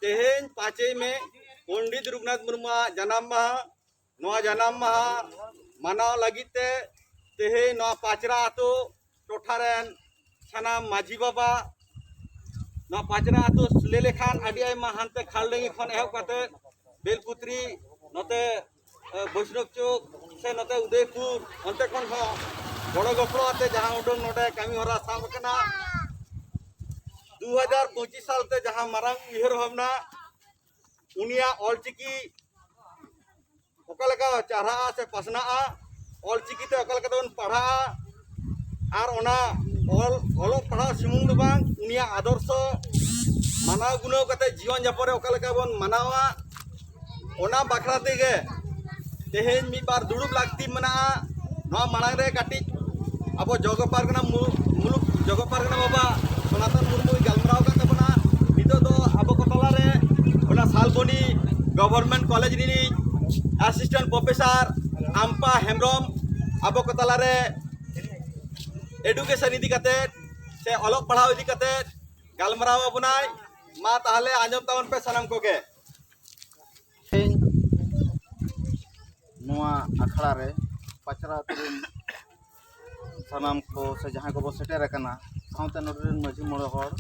ᱛᱮᱦᱮᱧ ᱯᱟᱸᱪᱮᱭ ᱢᱮ ᱯᱚᱱᱰᱤᱛ ᱨᱚᱜᱷᱩᱱᱟᱛᱷ ᱢᱩᱨᱢᱩᱣᱟᱜ ᱡᱟᱱᱟᱢ ᱢᱟᱦᱟ ᱱᱚᱣᱟ ᱡᱟᱱᱟᱢ ᱢᱟᱦᱟ ᱢᱟᱱᱟᱣ ᱞᱟᱹᱜᱤᱫ ᱛᱮ ᱛᱮᱦᱮᱧ ᱱᱚᱣᱟ ᱯᱟᱪᱨᱟ ᱟᱛᱳ ᱴᱚᱴᱷᱟ ᱨᱮᱱ ᱥᱟᱱᱟᱢ ᱢᱟᱹᱡᱷᱤ ᱵᱟᱵᱟ ᱱᱚᱣᱟ ᱯᱟᱪᱨᱟ ᱟᱛᱳ ᱞᱟᱹᱭ ᱞᱮᱠᱷᱟᱱ ᱟᱹᱰᱤ ᱟᱭᱢᱟ ᱦᱟᱱᱛᱮ ᱠᱷᱟᱞᱰᱟᱹᱝᱜᱤ ᱠᱷᱚᱱ ᱮᱦᱚᱵ ᱠᱟᱛᱮ ᱵᱮᱞᱯᱩᱛᱨᱤ ᱱᱚᱛᱮ ᱵᱳᱭᱥᱱᱚᱵ ᱪᱚᱠ ᱥᱮ ᱱᱚᱛᱮ ᱩᱫᱚᱭᱯᱩᱨ ᱚᱱᱛᱮ ᱠᱷᱚᱱ ᱦᱚᱸ ᱜᱚᱲᱚ ᱜᱚᱯᱚᱲᱚ ᱟᱛᱮ ᱡᱟᱦᱟᱸ ᱩᱰᱟᱹᱝ ᱱᱚᱰᱮ ᱠᱟᱹᱢᱤ ᱦᱚᱨᱟ ᱥᱟᱵ ᱟᱠᱟᱱᱟ ᱫᱩ ᱦᱟᱡᱟᱨ ᱯᱚᱸᱪᱤᱥ ᱥᱟᱞ ᱛᱮ ᱡᱟᱦᱟᱸ ᱢᱟᱨᱟᱝ ᱩᱭᱦᱟᱹᱨ ᱵᱷᱟᱵᱽᱱᱟ ᱩᱱᱤᱭᱟᱜ ᱚᱞᱪᱤᱠᱤ ᱚᱠᱟ ᱞᱮᱠᱟ ᱪᱟᱨᱦᱟᱜᱼᱟ ᱥᱮ ᱯᱟᱥᱱᱟᱜᱼᱟ ᱚᱞᱪᱤᱠᱤ ᱛᱮ ᱚᱠᱟ ᱞᱮᱠᱟ ᱛᱮᱵᱚᱱ ᱯᱟᱲᱦᱟᱜᱼᱟ ᱟᱨ ᱚᱱᱟ ᱚᱞ ᱚᱞᱚᱜ ᱯᱟᱲᱦᱟᱣ ᱥᱩᱢᱩᱝ ᱫᱚ ᱵᱟᱝ ᱩᱱᱤᱭᱟᱜ ᱟᱫᱚᱨᱥᱚ ᱢᱟᱱᱟᱣ ᱜᱩᱱᱟᱹᱣ ᱠᱟᱛᱮ ᱡᱤᱭᱚᱱ ᱡᱟᱯᱚᱱ ᱨᱮ ᱚᱠᱟ ᱞᱮᱠᱟ ᱵᱚᱱ ᱢᱟᱱᱟᱣᱟ ᱚᱱᱟ ᱵᱟᱠᱷᱨᱟ ᱛᱮᱜᱮ ᱛᱮᱦᱮᱧ ᱢᱤᱫ ᱵᱟᱨ ᱫᱩᱲᱩᱵ ᱞᱟᱹᱠᱛᱤ ᱢᱮᱱᱟᱜᱼᱟ ᱱᱚᱣᱟ ᱢᱟᱲᱟᱝ ᱨᱮ ᱠᱟᱹᱴᱤᱡ ᱟᱵᱚ ᱡᱚᱜᱚ ᱯᱟᱨᱜᱟᱱᱟ ᱢᱩᱞᱩᱠ ᱡᱚᱜᱚ ᱯᱟᱨᱜᱟᱱᱟ ᱵᱟᱵᱟ ᱥᱚᱱᱟᱛᱚᱱ ᱢᱩᱨᱢᱩᱭ ᱜᱟᱞᱢᱟᱨᱟᱣ ᱟᱠᱟᱫ ᱛᱟᱵᱚᱱᱟ ᱱᱤᱛᱚᱜ ᱫᱚ ᱟᱵᱚ ᱠᱚ ᱛᱟᱞᱟ ᱨᱮ ᱚᱱᱟ ᱥᱟᱞᱵᱚᱱᱤ ᱜᱚᱵᱷᱚᱨᱱᱢᱮᱱᱴ ᱠᱚᱞᱮᱡᱽ ᱨᱤᱱᱤᱡ ᱮᱥᱤᱥᱴᱮᱱᱴ ᱯᱨᱚᱯᱷᱮᱥᱟᱨ ᱟᱢᱯᱟ ᱦᱮᱢᱵᱨᱚᱢ ᱟᱵᱚ ᱠᱚ ᱛᱟᱞᱟᱨᱮ ᱮᱰᱩᱠᱮᱥᱚᱱ ᱤᱫᱤ ᱠᱟᱛᱮ ᱥᱮ ᱚᱞᱚᱜ ᱯᱟᱲᱦᱟᱣ ᱤᱫᱤ ᱠᱟᱛᱮ ᱜᱟᱞᱢᱟᱨᱟᱣ ᱟᱵᱚᱱᱟᱭ ᱢᱟ ᱛᱟᱦᱚᱞᱮ ᱟᱸᱡᱚᱢ ᱛᱟᱵᱚᱱ ᱯᱮ ᱥᱟᱱᱟᱢ ᱠᱚᱜᱮ ᱱᱚᱣᱟ ᱟᱠᱷᱲᱟ ᱨᱮ ᱯᱟᱪᱨᱟ ᱟᱛᱳ ᱨᱮᱱ ᱥᱟᱱᱟᱢ ᱠᱚ ᱥᱮ ᱡᱟᱦᱟᱸᱭ ᱠᱚᱵᱚ ᱥᱮᱴᱮᱨ ᱟᱠᱟᱱᱟ ᱥᱟᱶᱛᱮ ᱱᱚᱰᱮ ᱨᱮᱱ ᱢᱟᱺᱡᱷᱤ ᱢᱚᱬᱮ ᱦᱚᱲ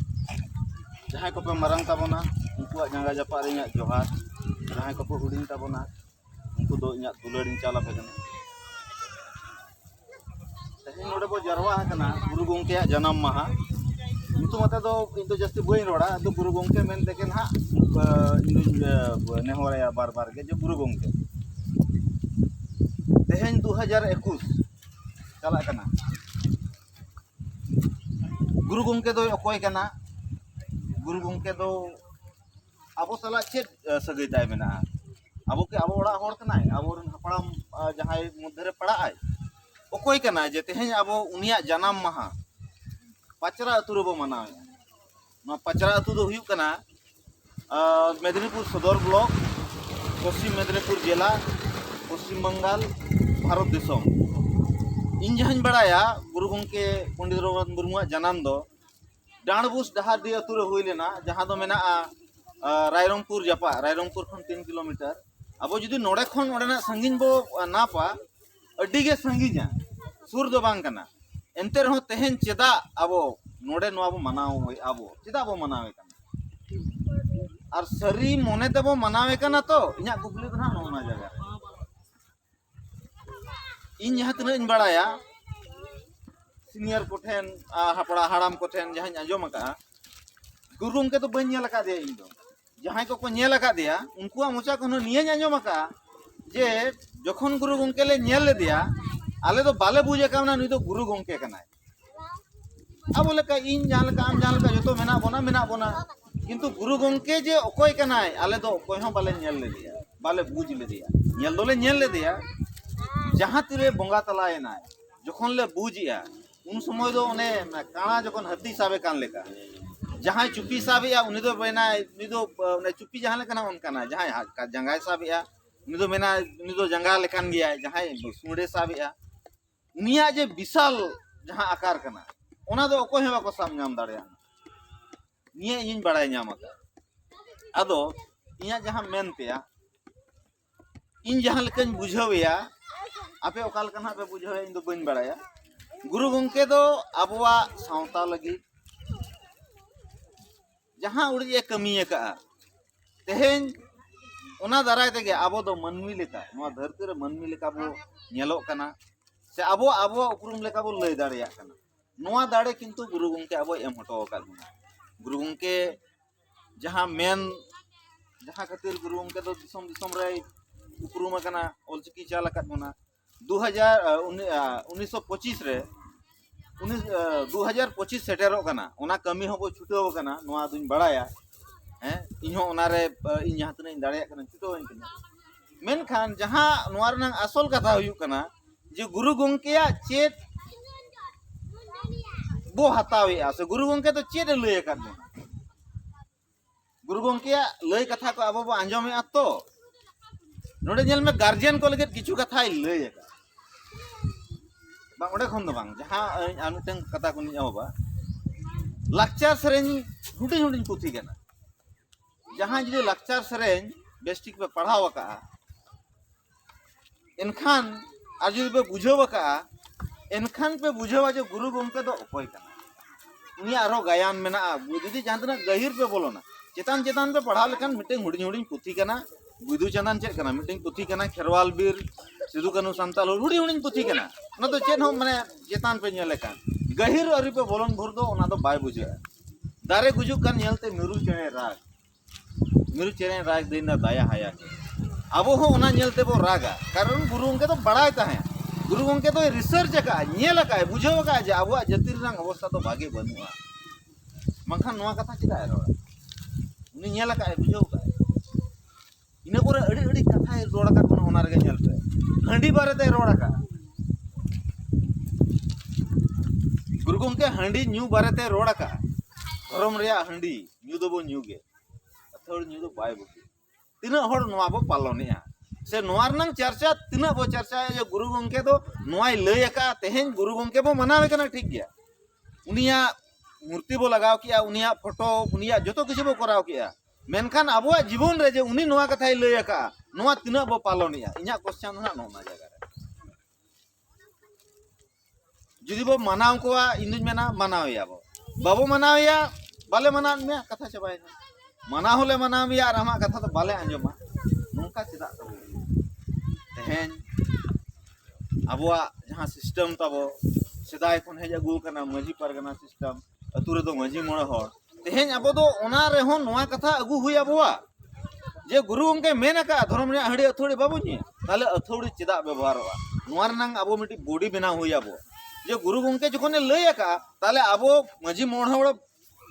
ᱡᱟᱦᱟᱸᱭ ᱠᱚᱯᱮ ᱢᱟᱨᱟᱝ ᱛᱟᱵᱚᱱᱟ ᱩᱱᱠᱩᱣᱟᱜ ᱡᱟᱸᱜᱟ ᱡᱟᱯᱟᱜ ᱨᱮ ᱤᱧᱟᱹᱜ ᱡᱚᱦᱟᱨ ᱡᱟᱦᱟᱸᱭ ᱠᱚᱠᱚ ᱦᱩᱰᱤᱧ ᱛᱟᱵᱚᱱᱟ ᱩᱱᱠᱩ ᱫᱚ ᱤᱧᱟᱹᱜ ᱫᱩᱞᱟᱹᱲᱤᱧ ᱪᱟᱞ ᱟᱯᱮ ᱠᱟᱱᱟ ᱛᱮᱦᱮᱧ ᱱᱚᱰᱮ ᱵᱚ ᱡᱟᱨᱣᱟ ᱟᱠᱟᱱᱟ ᱜᱩᱨᱩ ᱜᱚᱢᱠᱮᱭᱟᱜ ᱡᱟᱱᱟᱢ ᱢᱟᱦᱟ ᱧᱩᱛᱩᱢ ᱟᱛᱮ ᱫᱚ ᱤᱧ ᱫᱚ ᱡᱟᱹᱥᱛᱤ ᱵᱟᱹᱧ ᱨᱚᱲᱟ ᱟᱫᱚ ᱜᱩᱨᱩ ᱜᱚᱢᱠᱮ ᱢᱮᱱ ᱛᱮᱜᱮ ᱱᱟᱦᱟᱜ ᱤᱧᱫᱩᱧ ᱱᱮᱦᱚᱨᱟᱭᱟ ᱵᱟᱨ ᱵᱟᱨ ᱜᱮ ᱡᱮ ᱜᱩᱨᱩ ᱜᱚᱢᱠᱮ ᱛᱮᱦᱮᱧ ᱫᱩ ᱦᱟᱡᱟᱨ ᱮᱠᱩᱥ ᱪᱟᱞᱟᱜ ᱠᱟᱱᱟ ᱜᱩᱨᱩ ᱜᱚᱢᱠᱮ ᱫᱚᱭ ᱚᱠᱚᱭ ᱠᱟᱱᱟ ᱜᱩᱨᱩ ᱜᱚᱢᱠᱮ ᱫᱚ ᱟᱵᱚ ᱥᱟᱞᱟᱜ ᱪᱮᱫ ᱥᱟᱹᱜᱟᱹᱭ ᱛᱟᱭ ᱢᱮᱱᱟᱜᱼᱟ ᱟᱵᱚ ᱠᱤ ᱟᱵᱚ ᱚᱲᱟᱜ ᱦᱚᱲ ᱠᱟᱱᱟᱭ ᱟᱵᱚᱨᱮᱱ ᱦᱟᱯᱲᱟᱢ ᱡᱟᱦᱟᱸᱭ ᱢᱚᱫᱽᱫᱷᱮ ᱨᱮ ᱯᱟᱲᱟᱜ ᱟᱭ ᱚᱠᱚᱭ ᱠᱟᱱᱟᱭ ᱡᱮ ᱛᱮᱦᱮᱧ ᱟᱵᱚ ᱩᱱᱤᱭᱟᱜ ᱡᱟᱱᱟᱢ ᱢᱟᱦᱟ ᱯᱟᱪᱨᱟ ᱟᱹᱛᱩ ᱨᱮᱵᱚ ᱢᱟᱱᱟᱣᱮᱫᱼᱟ ᱱᱚᱣᱟ ᱯᱟᱪᱨᱟ ᱟᱹᱛᱩ ᱫᱚ ᱦᱩᱭᱩᱜ ᱠᱟᱱᱟ ᱢᱮᱫᱽᱱᱤᱯᱩᱨ ᱥᱚᱫᱚᱨ ᱵᱞᱚᱠ ᱯᱚᱥᱪᱤᱢ ᱢᱮᱫᱽᱱᱤᱯᱩᱨ ᱡᱮᱞᱟ ᱯᱚᱥᱪᱤᱢ ᱵᱟᱝᱜᱟᱞ ᱵᱷᱟᱨᱚᱛ ᱫᱤᱥᱚᱢ ᱤᱧ ᱡᱟᱦᱟᱸᱧ ᱵᱟᱲᱟᱭᱟ ᱜᱩᱨᱩ ᱜᱚᱢᱠᱮ ᱯᱚᱱᱰᱤᱛ ᱨᱚᱜᱷᱩᱱᱟᱛᱷ ᱢᱩᱨᱢᱩᱣᱟᱜ ᱡᱟᱱᱟᱢ ᱫᱚ ᱰᱟᱸᱰᱵᱩᱥ ᱰᱟᱦᱟᱨᱰᱤ ᱟᱹᱛᱩ ᱨᱮ ᱦᱩᱭ ᱞᱮᱱᱟ ᱡᱟᱦᱟᱸ ᱫᱚ ᱢᱮᱱᱟᱜᱼᱟ ᱨᱟᱭᱨᱚᱝᱯᱩᱨ ᱡᱟᱯᱟᱜ ᱨᱟᱭᱨᱚᱝᱯᱩᱨ ᱠᱷᱚᱱ ᱛᱤᱱ ᱠᱤᱞᱳᱢᱤᱴᱟᱨ ᱟᱵᱚ ᱡᱩᱫᱤ ᱱᱚᱰᱮ ᱠᱷᱚᱱ ᱚᱸᱰᱮᱱᱟᱜ ᱥᱟᱺᱜᱤᱧ ᱵᱚ ᱱᱟᱯᱟ ᱟᱹᱰᱤ ᱜᱮ ᱥᱟᱺᱜᱤᱧᱟ ᱥᱩᱨ ᱫᱚ ᱵᱟᱝ ᱠᱟᱱᱟ ᱮᱱᱛᱮ ᱨᱮᱦᱚᱸ ᱛᱮᱦᱮᱧ ᱪᱮᱫᱟᱜ ᱟᱵᱚ ᱱᱚᱰᱮ ᱱᱚᱣᱟ ᱵᱚ ᱢᱟᱱᱟᱣᱮᱫ ᱟᱵᱚ ᱪᱮᱫᱟᱜ ᱵᱚ ᱢᱟᱱᱟᱣᱮ ᱠᱟᱱᱟ ᱟᱨ ᱥᱟᱹᱨᱤ ᱢᱚᱱᱮ ᱛᱮᱵᱚ ᱢᱟᱱᱟᱣᱮ ᱠᱟᱱᱟ ᱛᱚ ᱤᱧᱟᱹᱜ ᱠᱩᱠᱞᱤ ᱫᱚ ᱦᱟᱸᱜ ᱱᱚᱜᱼᱚ ᱱᱚᱣᱟ ᱡᱟᱭᱜᱟ ᱨᱮ ᱤᱧ ᱡᱟᱦᱟᱸ ᱛᱤᱱᱟᱹᱜ ᱤᱧ ᱵᱟᱲᱟᱭᱟ ᱥᱤᱱᱤᱭᱟᱨ ᱠᱚᱴᱷᱮᱱ ᱦᱟᱯᱲᱟ ᱦᱟᱲᱟᱢ ᱠᱚᱴᱷᱮᱱ ᱡᱟᱦᱟᱸᱧ ᱟᱸᱡᱚᱢ ᱟᱠᱟᱫᱼᱟ ᱜᱩᱨᱩ ᱜᱚᱢᱠᱮ ᱫᱚ ᱵᱟᱹᱧ ᱧᱮᱞ ᱟᱠᱟᱫᱮᱭᱟ ᱤᱧ ᱫᱚ ᱡᱟᱦᱟᱸᱭ ᱠᱚᱠᱚ ᱧᱮᱞ ᱟᱠᱟᱫᱮᱭᱟ ᱩᱱᱠᱩᱣᱟᱜ ᱢᱚᱪᱟ ᱠᱷᱚᱱ ᱱᱤᱭᱟᱹᱧ ᱟᱸᱡᱚᱢ ᱟᱠᱟᱫᱼᱟ ᱡᱮ ᱡᱚᱠᱷᱚᱱ ᱜᱩᱨᱩ ᱜᱚᱢᱠᱮ ᱞᱮ ᱧᱮᱞ ᱞᱮᱫᱮᱭᱟ ᱟᱞᱮ ᱫᱚ ᱵᱟᱞᱮ ᱵᱩᱡᱽ ᱟᱠᱟᱣᱱᱟ ᱱᱩᱭ ᱫᱚ ᱜᱩᱨᱩ ᱜᱚᱢᱠᱮ ᱠᱟᱱᱟᱭ ᱟᱵᱚ ᱞᱮᱠᱟ ᱤᱧ ᱡᱟᱦᱟᱸ ᱞᱮᱠᱟ ᱟᱢ ᱡᱟᱦᱟᱸ ᱞᱮᱠᱟ ᱡᱚᱛᱚ ᱢᱮᱱᱟᱜ ᱵᱚᱱᱟ ᱢᱮᱱᱟᱜ ᱵᱚᱱᱟ ᱠᱤᱱᱛᱩ ᱜᱩᱨᱩ ᱜᱚᱢᱠᱮ ᱡᱮ ᱚᱠᱚᱭ ᱠᱟᱱᱟᱭ ᱟᱞᱮ ᱫᱚ ᱚᱠᱚᱭ ᱦᱚᱸ ᱵᱟᱞᱮ ᱧᱮᱞ ᱞᱮᱫᱮᱭᱟ ᱵᱟᱞᱮ ᱵᱩᱡᱽ ᱞᱮᱫᱮᱭᱟ ᱧᱮᱞ ᱫᱚᱞᱮ ᱧᱮᱞ ᱞᱮᱫᱮᱭᱟ ᱡᱟᱦᱟᱸ ᱛᱤᱨᱮ ᱵᱚᱸᱜᱟ ᱛᱟᱞᱟᱭᱮᱱᱟᱭ ᱡᱚᱠᱷᱚᱱ ᱞᱮ ᱵᱩᱡᱮᱜᱼᱟ ᱩᱱ ᱥᱚᱢᱚᱭ ᱫᱚ ᱚᱱᱮ ᱠᱟᱬᱟ ᱡᱚᱠᱷᱚᱱ ᱦᱟᱹᱛᱤ ᱥᱟᱵᱮ ᱠᱟᱱ ᱞᱮᱠᱟ ᱡᱟᱦᱟᱸᱭ ᱪᱩᱯᱤ ᱥᱟᱵᱮᱜᱼᱟ ᱩᱱᱤ ᱫᱚ ᱢᱮᱱᱟᱭ ᱩᱱᱤ ᱫᱚ ᱚᱱᱮ ᱪᱩᱯᱤ ᱡᱟᱦᱟᱸ ᱞᱮᱠᱟᱱᱟ ᱚᱱᱠᱟᱱᱟ ᱡᱟᱦᱟᱸᱭ ᱡᱟᱸᱜᱟᱭ ᱥᱟᱵᱮᱜᱼᱟ ᱩᱱᱤ ᱫᱚ ᱢᱮᱱᱟᱭ ᱩᱱᱤ ᱫᱚ ᱡᱟᱸᱜᱟ ᱞᱮᱠᱟᱱ ᱜᱮᱭᱟᱭ ᱡᱟᱦᱟᱸᱭ ᱥᱩᱬᱮ ᱥᱟᱵᱮᱜᱼᱟ ᱩᱱᱤᱭᱟᱜ ᱡᱮ ᱵᱤᱥᱟᱞ ᱡᱟᱦᱟᱸ ᱟᱠᱟᱨ ᱠᱟᱱᱟ ᱚᱱᱟ ᱫᱚ ᱚᱠᱚᱭ ᱦᱚᱸ ᱵᱟᱠᱚ ᱥᱟᱵ ᱧᱟᱢ ᱫᱟᱲᱮᱭᱟᱜᱼᱟ ᱱᱤᱭᱟᱹ ᱤᱧᱤᱧ ᱵᱟᱲᱟᱭ ᱧᱟᱢ ᱟᱠᱟᱫᱟ ᱟᱫᱚ ᱤᱧᱟᱹᱜ ᱡᱟᱦᱟᱸ ᱢᱮᱱ ᱛᱮᱭᱟ ᱤᱧ ᱡᱟᱦᱟᱸ ᱞᱮᱠᱟᱧ ᱵᱩᱡᱷᱟᱹᱣᱮᱭᱟ ᱟᱯᱮ ᱚᱠᱟ ᱞᱮᱠᱟ ᱱᱟᱜ ᱯᱮ ᱵᱩᱡᱷᱟᱹᱣᱮᱭᱟ ᱤᱧ ᱫᱚ ᱵᱟᱹᱧ ᱵᱟᱲᱟᱭᱟ ᱜᱩᱨᱩ ᱜᱚᱢᱠᱮ ᱫᱚ ᱟᱵᱚᱣᱟᱜ ᱥᱟᱶᱛᱟ ᱞᱟᱹᱜᱤᱫ ᱡᱟᱦᱟᱸ ᱩᱲᱤᱡ ᱮ ᱠᱟᱹᱢᱤ ᱟᱠᱟᱫᱼᱟ ᱛᱮᱦᱮᱧ ᱚᱱᱟ ᱫᱟᱨᱟᱭ ᱛᱮᱜᱮ ᱟᱵᱚ ᱫᱚ ᱢᱟᱹᱱᱢᱤ ᱞᱮᱠᱟ ᱱᱚᱣᱟ ᱫᱷᱟᱹᱨᱛᱤ ᱨᱮ ᱢᱟᱹᱱᱢᱤ ᱞᱮᱠᱟ ᱵᱚ ᱧᱮᱞᱚᱜ ᱠᱟᱱᱟ ᱥᱮ ᱟᱵᱚ ᱟᱵᱚᱣᱟᱜ ᱩᱯᱨᱩᱢ ᱞᱮᱠᱟ ᱵᱚ ᱞᱟᱹᱭ ᱫᱟᱲᱮᱭᱟᱜ ᱠᱟᱱᱟ ᱱᱚᱣᱟ ᱫᱟᱲᱮ ᱠᱤᱱᱛᱩ ᱜᱩᱨᱩ ᱜᱚᱢᱠᱮ ᱟᱵᱚᱭ ᱮᱢ ᱦᱚᱴᱚ ᱟᱠᱟᱫ ᱵᱚᱱᱟ ᱜᱩᱨᱩ ᱜᱚᱢᱠᱮ ᱡᱟᱦᱟᱸ ᱢᱮᱱ ᱡᱟᱦᱟᱸ ᱠᱷᱟᱹᱛᱤᱨ ᱜᱩᱨᱩ ᱜᱚᱢᱠᱮ ᱫᱚ ᱫᱤᱥᱚᱢ ᱫᱤᱥᱚᱢ ᱨᱮᱭ ᱩᱯᱨᱩᱢ ᱟᱠᱟᱱᱟ ᱚᱞᱪᱤᱠᱤ ᱪᱟᱞ ᱟᱠᱟᱫ ᱵᱚᱱᱟ ᱫᱩ ᱦᱟᱡᱟᱨ ᱩᱱᱤᱥ ᱥᱚ ᱯᱚᱸᱪᱤᱥ ᱨᱮ ᱩᱱᱤ ᱫᱩ ᱦᱟᱡᱟᱨ ᱯᱚᱸᱪᱤᱥ ᱥᱮᱴᱮᱨᱚᱜ ᱠᱟᱱᱟ ᱚᱱᱟ ᱠᱟᱹᱢᱤ ᱦᱚᱸᱵᱚ ᱪᱷᱩᱴᱟᱹᱣ ᱟᱠᱟᱱᱟ ᱱᱚᱣᱟ ᱫᱩᱧ ᱵᱟᱲᱟᱭᱟ ᱦᱮᱸ ᱤᱧ ᱦᱚᱸ ᱚᱱᱟᱨᱮ ᱤᱧ ᱡᱟᱦᱟᱸ ᱛᱤᱱᱟᱹᱜ ᱤᱧ ᱫᱟᱲᱮᱭᱟᱜ ᱠᱟᱱᱟ ᱪᱷᱩᱴᱟᱹᱣ ᱟᱹᱧ ᱠᱟᱱᱟ ᱢᱮᱱᱠᱷᱟᱱ ᱡᱟᱦᱟᱸ ᱱᱚᱣᱟ ᱨᱮᱱᱟᱜ ᱟᱥᱚᱞ ᱠᱟᱛᱷᱟ ᱦᱩᱭᱩᱜ ᱠᱟᱱᱟ ᱡᱮ ᱜᱩᱨᱩ ᱜᱚᱢᱠᱮᱭᱟᱜ ᱪᱮᱫ ᱵᱚ ᱦᱟᱛᱟᱣᱮᱜᱼᱟ ᱥᱮ ᱜᱩᱨᱩ ᱜᱚᱢᱠᱮ ᱫᱚ ᱪᱮᱫ ᱮ ᱞᱟᱹᱭ ᱟᱠᱟᱫ ᱵᱚᱱᱟ ᱜᱩᱨᱩ ᱜᱚᱢᱠᱮᱭᱟᱜ ᱞᱟᱹᱭ ᱠᱟᱛᱷᱟ ᱠᱚ ᱟᱵᱚ ᱵᱚ ᱟᱸᱡᱚᱢᱮᱜᱼᱟ ᱛᱚ ᱱᱚᱰᱮ ᱧᱮᱞ ᱢᱮ ᱜᱟᱨᱡᱮᱱ ᱠᱚ ᱞᱟᱹᱜᱤᱫ ᱠᱤᱪᱷᱩ ᱠᱟᱛᱷᱟᱭ ᱞᱟᱹᱭ ᱟᱠᱟᱫ ᱵᱟᱝ ᱚᱸᱰᱮ ᱠᱷᱚᱱ ᱫᱚ ᱵᱟᱝ ᱡᱟᱦᱟᱸ ᱟᱨ ᱢᱤᱫᱴᱟᱝ ᱠᱟᱛᱷᱟ ᱠᱚᱧ ᱮᱦᱚᱵᱟ ᱞᱟᱠᱪᱟᱨ ᱥᱮᱨᱮᱧ ᱦᱩᱰᱤᱧ ᱦᱩᱰᱤᱧ ᱯᱩᱛᱷᱤ ᱠᱟᱱᱟ ᱡᱟᱦᱟᱸ ᱡᱩᱫᱤ ᱞᱟᱠᱪᱟᱨ ᱥᱮᱨᱮᱧ ᱵᱮᱥᱴᱷᱤᱠ ᱯᱮ ᱯᱟᱲᱦᱟᱣ ᱟᱠᱟᱫᱼᱟ ᱮᱱᱠᱷᱟᱱ ᱟᱨ ᱡᱩᱫᱤ ᱯᱮ ᱵᱩᱡᱷᱟᱹᱣ ᱟᱠᱟᱜᱼᱟ ᱮᱱᱠᱷᱟᱱ ᱯᱮ ᱵᱩᱡᱷᱟᱹᱣᱟ ᱡᱮ ᱜᱩᱨᱩ ᱜᱚᱢᱠᱮ ᱫᱚ ᱚᱠᱚᱭ ᱠᱟᱱᱟ ᱩᱱᱤᱭᱟᱜ ᱟᱨᱦᱚᱸ ᱜᱟᱭᱟᱱ ᱢᱮᱱᱟᱜᱼᱟ ᱡᱩᱫᱤ ᱡᱟᱦᱟᱸ ᱛᱤᱱᱟᱹᱜ ᱜᱟᱹᱦᱤᱨ ᱯᱮ ᱵᱚᱞᱚᱱᱟ ᱪᱮᱛᱟᱱ ᱪᱮᱛᱟᱱ ᱯᱮ ᱯᱟᱲᱦᱟᱣ ᱞᱮᱠᱷᱟᱱ ᱢᱤᱫᱴᱮᱱ ᱦᱩᱰᱤᱧ ᱦᱩᱰᱤᱧ ᱯᱩᱛᱷᱤ ᱠᱟᱱᱟ ᱵᱤᱫᱩ ᱪᱟᱸᱫᱟᱱ ᱪᱮᱫ ᱠᱟᱱᱟ ᱢᱤᱫᱴᱮᱱ ᱯᱩᱛᱷᱤ ᱠᱟᱱᱟ ᱠᱷᱮᱨᱣᱟᱞ ᱵᱤᱨ ᱥᱤᱫᱩ ᱠᱟᱹᱱᱩ ᱥᱟᱱᱛᱟᱞ ᱦᱩᱰᱤᱧ ᱦᱩᱰᱤᱧ ᱯᱩᱛᱷᱤ ᱠᱟᱱᱟ ᱚᱱᱟ ᱫᱚ ᱪᱮᱫ ᱦᱚᱸ ᱢᱟᱱᱮ ᱪᱮᱛᱟᱱ ᱯᱮ ᱧᱮᱞ ᱞᱮᱠᱷᱟᱱ ᱜᱟᱹᱦᱤᱨ ᱟᱹᱨᱤ ᱯᱮ ᱵᱚᱞᱚᱱ ᱵᱷᱳᱨ ᱫᱚ ᱚᱱᱟ ᱫᱚ ᱵᱟᱭ ᱵᱩᱡᱷᱟᱹᱜᱼᱟ ᱫᱟᱨᱮ ᱜᱩᱡᱩᱜ ᱠᱟᱱ ᱧᱮᱞᱛᱮ ᱢᱤᱨᱩ ᱪᱮᱬᱮ ᱨᱟᱜᱽ ᱢᱤᱨᱩ ᱪᱮᱬᱮ ᱨᱟᱜᱽ ᱫᱤᱱ ᱫᱚ ᱫᱟᱭᱟ ᱦᱟᱭᱟ ᱜᱮ ᱟᱵᱚ ᱦᱚᱸ ᱚᱱᱟ ᱧᱮᱞ ᱛᱮᱵᱚ ᱨᱟᱜᱟ ᱠᱟᱨᱚᱱ ᱜᱩᱨᱩ ᱜᱚᱢᱠᱮ ᱫᱚ ᱵᱟᱲᱟᱭ ᱛᱟᱦᱮᱸᱫ ᱜᱩᱨᱩ ᱜᱚᱢᱠᱮ ᱫᱚᱭ ᱨᱤᱥᱟᱨᱪ ᱟᱠᱟᱫᱼᱟ ᱧᱮᱞ ᱟᱠᱟᱫᱼᱟᱭ ᱵᱩᱡᱷᱟᱹᱣ ᱟᱠᱟᱫᱼᱟᱭ ᱡᱮ ᱟᱵᱚᱣᱟᱜ ᱡᱟᱹᱛᱤ ᱨᱮᱱᱟᱜ ᱚᱵᱚᱥᱛᱟ ᱫᱚ ᱵᱷᱟᱜᱮ ᱵᱟᱹᱱᱩᱜᱼᱟ ᱵᱟᱝᱠᱷᱟᱱ ᱱᱚᱣᱟ ᱠᱟᱛᱷᱟ ᱪᱮᱫᱟᱜ ᱮ ᱨᱚᱲᱟ ᱩᱱᱤ ᱧᱮᱞ ᱟᱠᱟᱫᱼᱟᱭ ᱵᱩᱡᱷᱟᱹᱣ ᱟᱠᱟᱫᱼᱟᱭ ᱤᱱᱟᱹ ᱯᱚᱨᱮ ᱟᱹᱰᱤ ᱟᱹᱰᱤ ᱠᱟᱛᱷᱟᱭ ᱨᱚᱲ ᱟᱠᱟᱫ ᱵᱚᱱᱟ ᱚᱱᱟ ᱨᱮᱜᱮ ᱧᱮᱞ ᱯᱮ ᱦᱟᱺᱰᱤ ᱵᱟᱨᱮᱛᱮ ᱨᱚᱲ ᱟᱠᱟᱫᱼᱟ ᱜᱩᱨᱩ ᱜᱚᱢᱠᱮ ᱦᱟᱺᱰᱤ ᱧᱩ ᱵᱟᱨᱮᱛᱮ ᱨᱚᱲ ᱟᱠᱟᱫᱼᱟ ᱫᱷᱚᱨᱚᱢ ᱨᱮᱭᱟᱜ ᱦᱟᱺᱰᱤ ᱧᱩ ᱫᱚᱵᱚ ᱧᱩ ᱜᱮ ᱟᱹᱛᱷᱟᱹᱲ ᱧᱩ ᱫᱚ ᱵᱟᱭ ᱵᱩᱜᱤ ᱛᱤᱱᱟᱹᱜ ᱦᱚᱲ ᱱᱚᱣᱟ ᱵᱚ ᱯᱟᱞᱚᱱᱮᱜᱼᱟ ᱥᱮ ᱱᱚᱣᱟ ᱨᱮᱱᱟᱝ ᱪᱟᱨᱪᱟ ᱛᱤᱱᱟᱹᱜ ᱵᱚ ᱪᱟᱨᱪᱟᱭᱟ ᱡᱮ ᱜᱩᱨᱩ ᱜᱚᱢᱠᱮ ᱫᱚ ᱱᱚᱣᱟᱭ ᱞᱟᱹᱭ ᱟᱠᱟᱫᱼᱟ ᱛᱮᱦᱮᱧ ᱜᱩᱨᱩ ᱜᱚᱢᱠᱮ ᱵᱚ ᱢᱟᱱᱟᱣᱮ ᱠᱟᱱᱟ ᱴᱷᱤᱠ ᱜᱮᱭᱟ ᱩᱱᱤᱭᱟᱜ ᱢᱩᱨᱛᱤ ᱵᱚ ᱞᱟᱜᱟᱣ ᱠᱮᱜᱼᱟ ᱩᱱᱤᱭᱟᱜ ᱯᱷᱳᱴᱳ ᱩᱱᱤᱭᱟᱜ ᱡᱚᱛᱚ ᱠᱤᱪᱷᱩ ᱵᱚ ᱠᱚᱨᱟᱣ ᱠᱮᱜᱼᱟ ᱢᱮᱱᱠᱷᱟᱱ ᱟᱵᱚᱣᱟᱜ ᱡᱤᱵᱚᱱ ᱨᱮ ᱡᱮ ᱩᱱᱤ ᱱᱚᱣᱟ ᱠᱟᱛᱷᱟᱭ ᱞᱟᱹᱭ ᱟᱠᱟᱜᱼᱟ ᱱᱚᱣᱟ ᱛᱤᱱᱟᱹᱜ ᱵᱚ ᱯᱟᱞᱚᱱᱮᱜᱼᱟ ᱤᱧᱟᱹᱜ ᱠᱚᱥᱪᱟᱱ ᱫᱚ ᱱᱟᱜ ᱱᱚᱣᱟ ᱡᱟᱭᱜᱟ ᱨᱮ ᱡᱩᱫᱤ ᱵᱚ ᱢᱟᱱᱟᱣ ᱠᱚᱣᱟ ᱤᱧ ᱫᱩᱧ ᱢᱮᱱᱟ ᱢᱟᱱᱟᱣᱮᱭᱟ ᱵᱚ ᱵᱟᱵᱚ ᱢᱟᱱᱟᱣᱮᱭᱟ ᱵᱟᱞᱮ ᱢᱟᱱᱟᱣ ᱢᱮᱭᱟ ᱠᱟᱛᱷᱟ ᱪᱟᱵᱟᱭᱮᱱᱟ ᱢᱟᱱᱟᱣ ᱦᱚᱸᱞᱮ ᱢᱟᱱᱟᱣ ᱢᱮᱭᱟ ᱟᱨ ᱟᱢᱟᱜ ᱠᱟᱛᱷᱟ ᱫᱚ ᱵᱟᱞᱮ ᱟᱸᱡᱚᱢᱟ ᱱᱚᱝᱠᱟ ᱪᱮᱫᱟᱜ ᱛᱟᱵᱚ ᱛᱮᱦᱮᱧ ᱟᱵᱚᱣᱟᱜ ᱡᱟᱦᱟᱸ ᱥᱤᱥᱴᱮᱢ ᱛᱟᱵᱚ ᱥᱮᱫᱟᱭ ᱠᱷᱚᱱ ᱦᱮᱡ ᱟᱹᱜᱩ ᱟᱠᱟᱱᱟ ᱢᱟᱹᱡᱷᱤ ᱯᱟᱨᱜᱟᱱᱟ ᱥᱤᱥᱴᱮᱢ ᱟᱹᱛᱩ ᱨᱮᱫᱚ ᱢᱟᱹᱡᱷᱤ ᱢᱚᱬᱮ ᱦᱚᱲ ᱛᱮᱦᱮᱧ ᱟᱵᱚ ᱫᱚ ᱚᱱᱟ ᱨᱮᱦᱚᱸ ᱱᱚᱣᱟ ᱠᱟᱛᱷᱟ ᱟᱹᱜᱩ ᱦᱩᱭ ᱟᱵᱚᱣᱟ ᱡᱮ ᱜᱩᱨᱩ ᱜᱚᱢᱠᱮ ᱢᱮᱱ ᱟᱠᱟᱫᱼᱟ ᱫᱷᱚᱨᱚᱢ ᱨᱮᱭᱟᱜ ᱦᱟᱺᱰᱤ ᱟᱹᱛᱷᱟᱹᱲᱤ ᱵᱟᱵᱚ ᱧᱩᱭᱟ ᱛᱟᱦᱚᱞᱮ ᱟᱹᱛᱷᱟᱹᱲᱤ ᱪᱮᱫᱟᱜ ᱵᱮᱵᱚᱦᱟᱨᱚᱜᱼᱟ ᱱᱚᱣᱟ ᱨᱮᱱᱟᱝ ᱟᱵᱚ ᱢᱤᱫᱴᱤᱡ ᱵᱚᱰᱤ ᱵᱮᱱᱟᱣ ᱦᱩᱭ ᱟᱵᱚ ᱡᱮ ᱜᱩᱨᱩ ᱜᱚᱢᱠᱮ ᱡᱚᱠᱷᱚᱱᱮ ᱞᱟᱹᱭ ᱟᱠᱟᱫᱼᱟ ᱛᱟᱦᱚᱞᱮ ᱟᱵᱚ ᱢᱟᱹᱡᱷᱤ ᱢᱚᱬᱮ ᱦᱚᱲ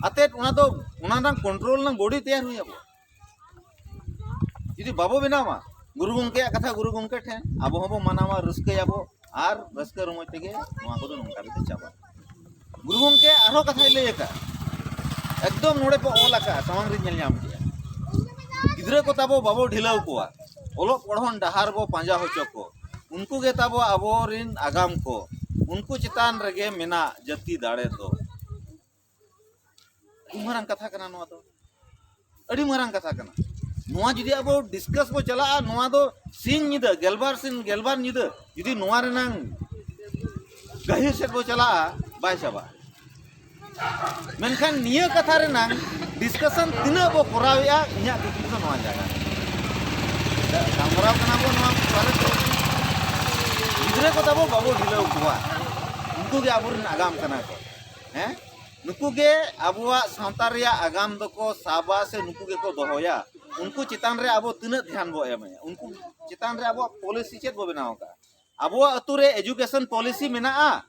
ᱟᱛᱮᱫ ᱚᱱᱟ ᱫᱚ ᱚᱱᱟ ᱨᱮᱱᱟᱝ ᱠᱚᱱᱴᱨᱳᱞ ᱨᱮᱱᱟᱝ ᱵᱚᱰᱤ ᱛᱮᱭᱟᱨ ᱦᱩᱭ ᱟᱵᱚ ᱡᱩᱫᱤ ᱵᱟᱵᱚ ᱵᱮᱱᱟᱣᱟ ᱜᱩᱨᱩ ᱜᱚᱢᱠᱮᱭᱟᱜ ᱠᱟᱛᱷᱟ ᱜᱩᱨᱩ ᱜᱚᱢᱠᱮ ᱴᱷᱮᱱ ᱟᱵᱚ ᱦᱚᱸᱵᱚ ᱢᱟᱱᱟᱣᱟ ᱨᱟᱹᱥᱠᱟᱹᱭᱟᱵᱚ ᱟᱨ ᱨᱟᱹᱥᱠᱟᱹ ᱨᱚᱢᱚᱡᱽ ᱛᱮᱜᱮ ᱱᱚᱣᱟ ᱠᱚᱫᱚ ᱱᱚᱝᱠᱟ ᱠᱟᱛᱮ ᱪᱟᱵᱟᱜᱼᱟ ᱜᱩᱨᱩ ᱜᱚᱢᱠᱮ ᱟᱨᱦᱚᱸ ᱠᱟᱛᱷᱟᱭ ᱞᱟᱹᱭ ᱟᱠᱟᱫᱼᱟ ᱮᱠᱫᱚᱢ ᱱᱚᱰᱮ ᱯᱮ ᱚᱞ ᱟᱠᱟᱫᱼᱟ ᱥᱟᱢᱟᱝ ᱨᱤᱧ ᱧᱮᱞ ᱧᱟᱢ ᱠᱮᱫᱼᱟ ᱜᱤᱫᱽᱨᱟᱹ ᱠᱚ ᱛᱟᱵᱚ ᱵᱟᱵᱚ ᱰᱷᱤᱞᱟᱹᱣ ᱠᱚᱣᱟ ᱚᱞᱚᱜ ᱯᱚᱲᱦᱚᱱ ᱰᱟᱦᱟᱨ ᱵᱚ ᱯᱟᱸᱡᱟ ᱦᱚᱪᱚ ᱠᱚ ᱩᱱᱠᱩ ᱜᱮ ᱛᱟᱵᱚ ᱟᱵᱚᱨᱮᱱ ᱟᱜᱟᱢ ᱠᱚ ᱩᱱᱠᱩ ᱪᱮᱛᱟᱱ ᱨᱮᱜᱮ ᱢᱮᱱᱟᱜ ᱡᱟᱹᱛᱤ ᱫᱟᱲᱮ ᱫᱚ ᱢᱟᱨᱟᱝ ᱠᱟᱛᱷᱟ ᱠᱟᱱᱟ ᱱᱚᱣᱟ ᱫᱚ ᱟᱹᱰᱤ ᱢᱟᱨᱟᱝ ᱠᱟᱛᱷᱟ ᱠᱟᱱᱟ ᱱᱚᱣᱟ ᱡᱩᱫᱤ ᱟᱵᱚ ᱰᱤᱥᱠᱟᱥ ᱵᱚ ᱪᱟᱞᱟᱜᱼᱟ ᱱᱚᱣᱟ ᱫᱚ ᱥᱤᱧ ᱧᱤᱫᱟᱹ ᱜᱮᱞᱵᱟᱨ ᱥᱤᱧ ᱜᱮᱞᱵᱟᱨ ᱧᱤᱫᱟᱹ ᱡᱩᱫᱤ ᱱᱚᱣᱟ ᱨᱮᱱᱟᱝ ᱜᱟᱹᱦᱤᱨ ᱥᱮᱫ ᱵᱚ ᱪᱟᱞᱟᱜᱼᱟ ᱵᱟᱭ ᱪᱟᱵᱟᱜᱼᱟ ᱢᱮᱱᱠᱷᱟᱱ ᱱᱤᱭᱟᱹ ᱠᱟᱛᱷᱟ ᱨᱮᱱᱟᱝ ᱰᱤᱥᱠᱟᱥᱚᱱ ᱛᱤᱱᱟᱹᱜ ᱵᱚ ᱠᱚᱨᱟᱣᱮᱫᱼᱟ ᱤᱧᱟᱹᱜ ᱠᱩᱠᱞᱤ ᱫᱚ ᱱᱚᱣᱟ ᱡᱟᱭᱜᱟ ᱜᱟᱞᱢᱟᱨᱟᱣ ᱠᱟᱱᱟ ᱵᱚ ᱱᱚᱣᱟ ᱵᱟᱨᱮ ᱛᱮ ᱜᱤᱫᱽᱨᱟᱹ ᱠᱚ ᱛᱟᱵᱚ ᱵᱟᱵᱚ ᱰᱷᱤᱞᱟᱹᱣ ᱠᱚᱣᱟ ᱩᱱᱠᱩ ᱜᱮ ᱟᱵᱚᱨᱮᱱ ᱟᱜᱟᱢ ᱠᱟᱱᱟ ᱠᱚ ᱦᱮᱸ ᱱᱩᱠᱩ ᱜᱮ ᱟᱵᱚᱣᱟᱜ ᱥᱟᱶᱛᱟ ᱨᱮᱭᱟᱜ ᱟᱜᱟᱢ ᱫᱚᱠᱚ ᱥᱟᱵᱟ ᱥᱮ ᱱᱩᱠᱩ ᱜᱮᱠᱚ ᱫᱚᱦᱚᱭᱟ ᱩᱱᱠᱩ ᱪᱮᱛᱟᱱ ᱨᱮ ᱟᱵᱚ ᱛᱤᱱᱟᱹᱜ ᱫᱷᱮᱭᱟᱱ ᱵᱚ ᱮᱢᱮᱭᱟ ᱩᱱᱠᱩ ᱪᱮᱛᱟᱱ ᱨᱮ ᱟᱵᱚᱣᱟᱜ ᱯᱚᱞᱤᱥᱤ ᱪᱮᱫ ᱵᱚ ᱵᱮᱱᱟᱣ ᱟᱠᱟᱫᱼᱟ ᱟᱵᱚᱣᱟᱜ ᱟᱹᱛᱩ ᱨᱮ ᱮᱡᱩᱠᱮᱥᱚᱱ ᱯᱚᱞᱤᱥᱤ ᱢᱮᱱᱟᱜᱼᱟ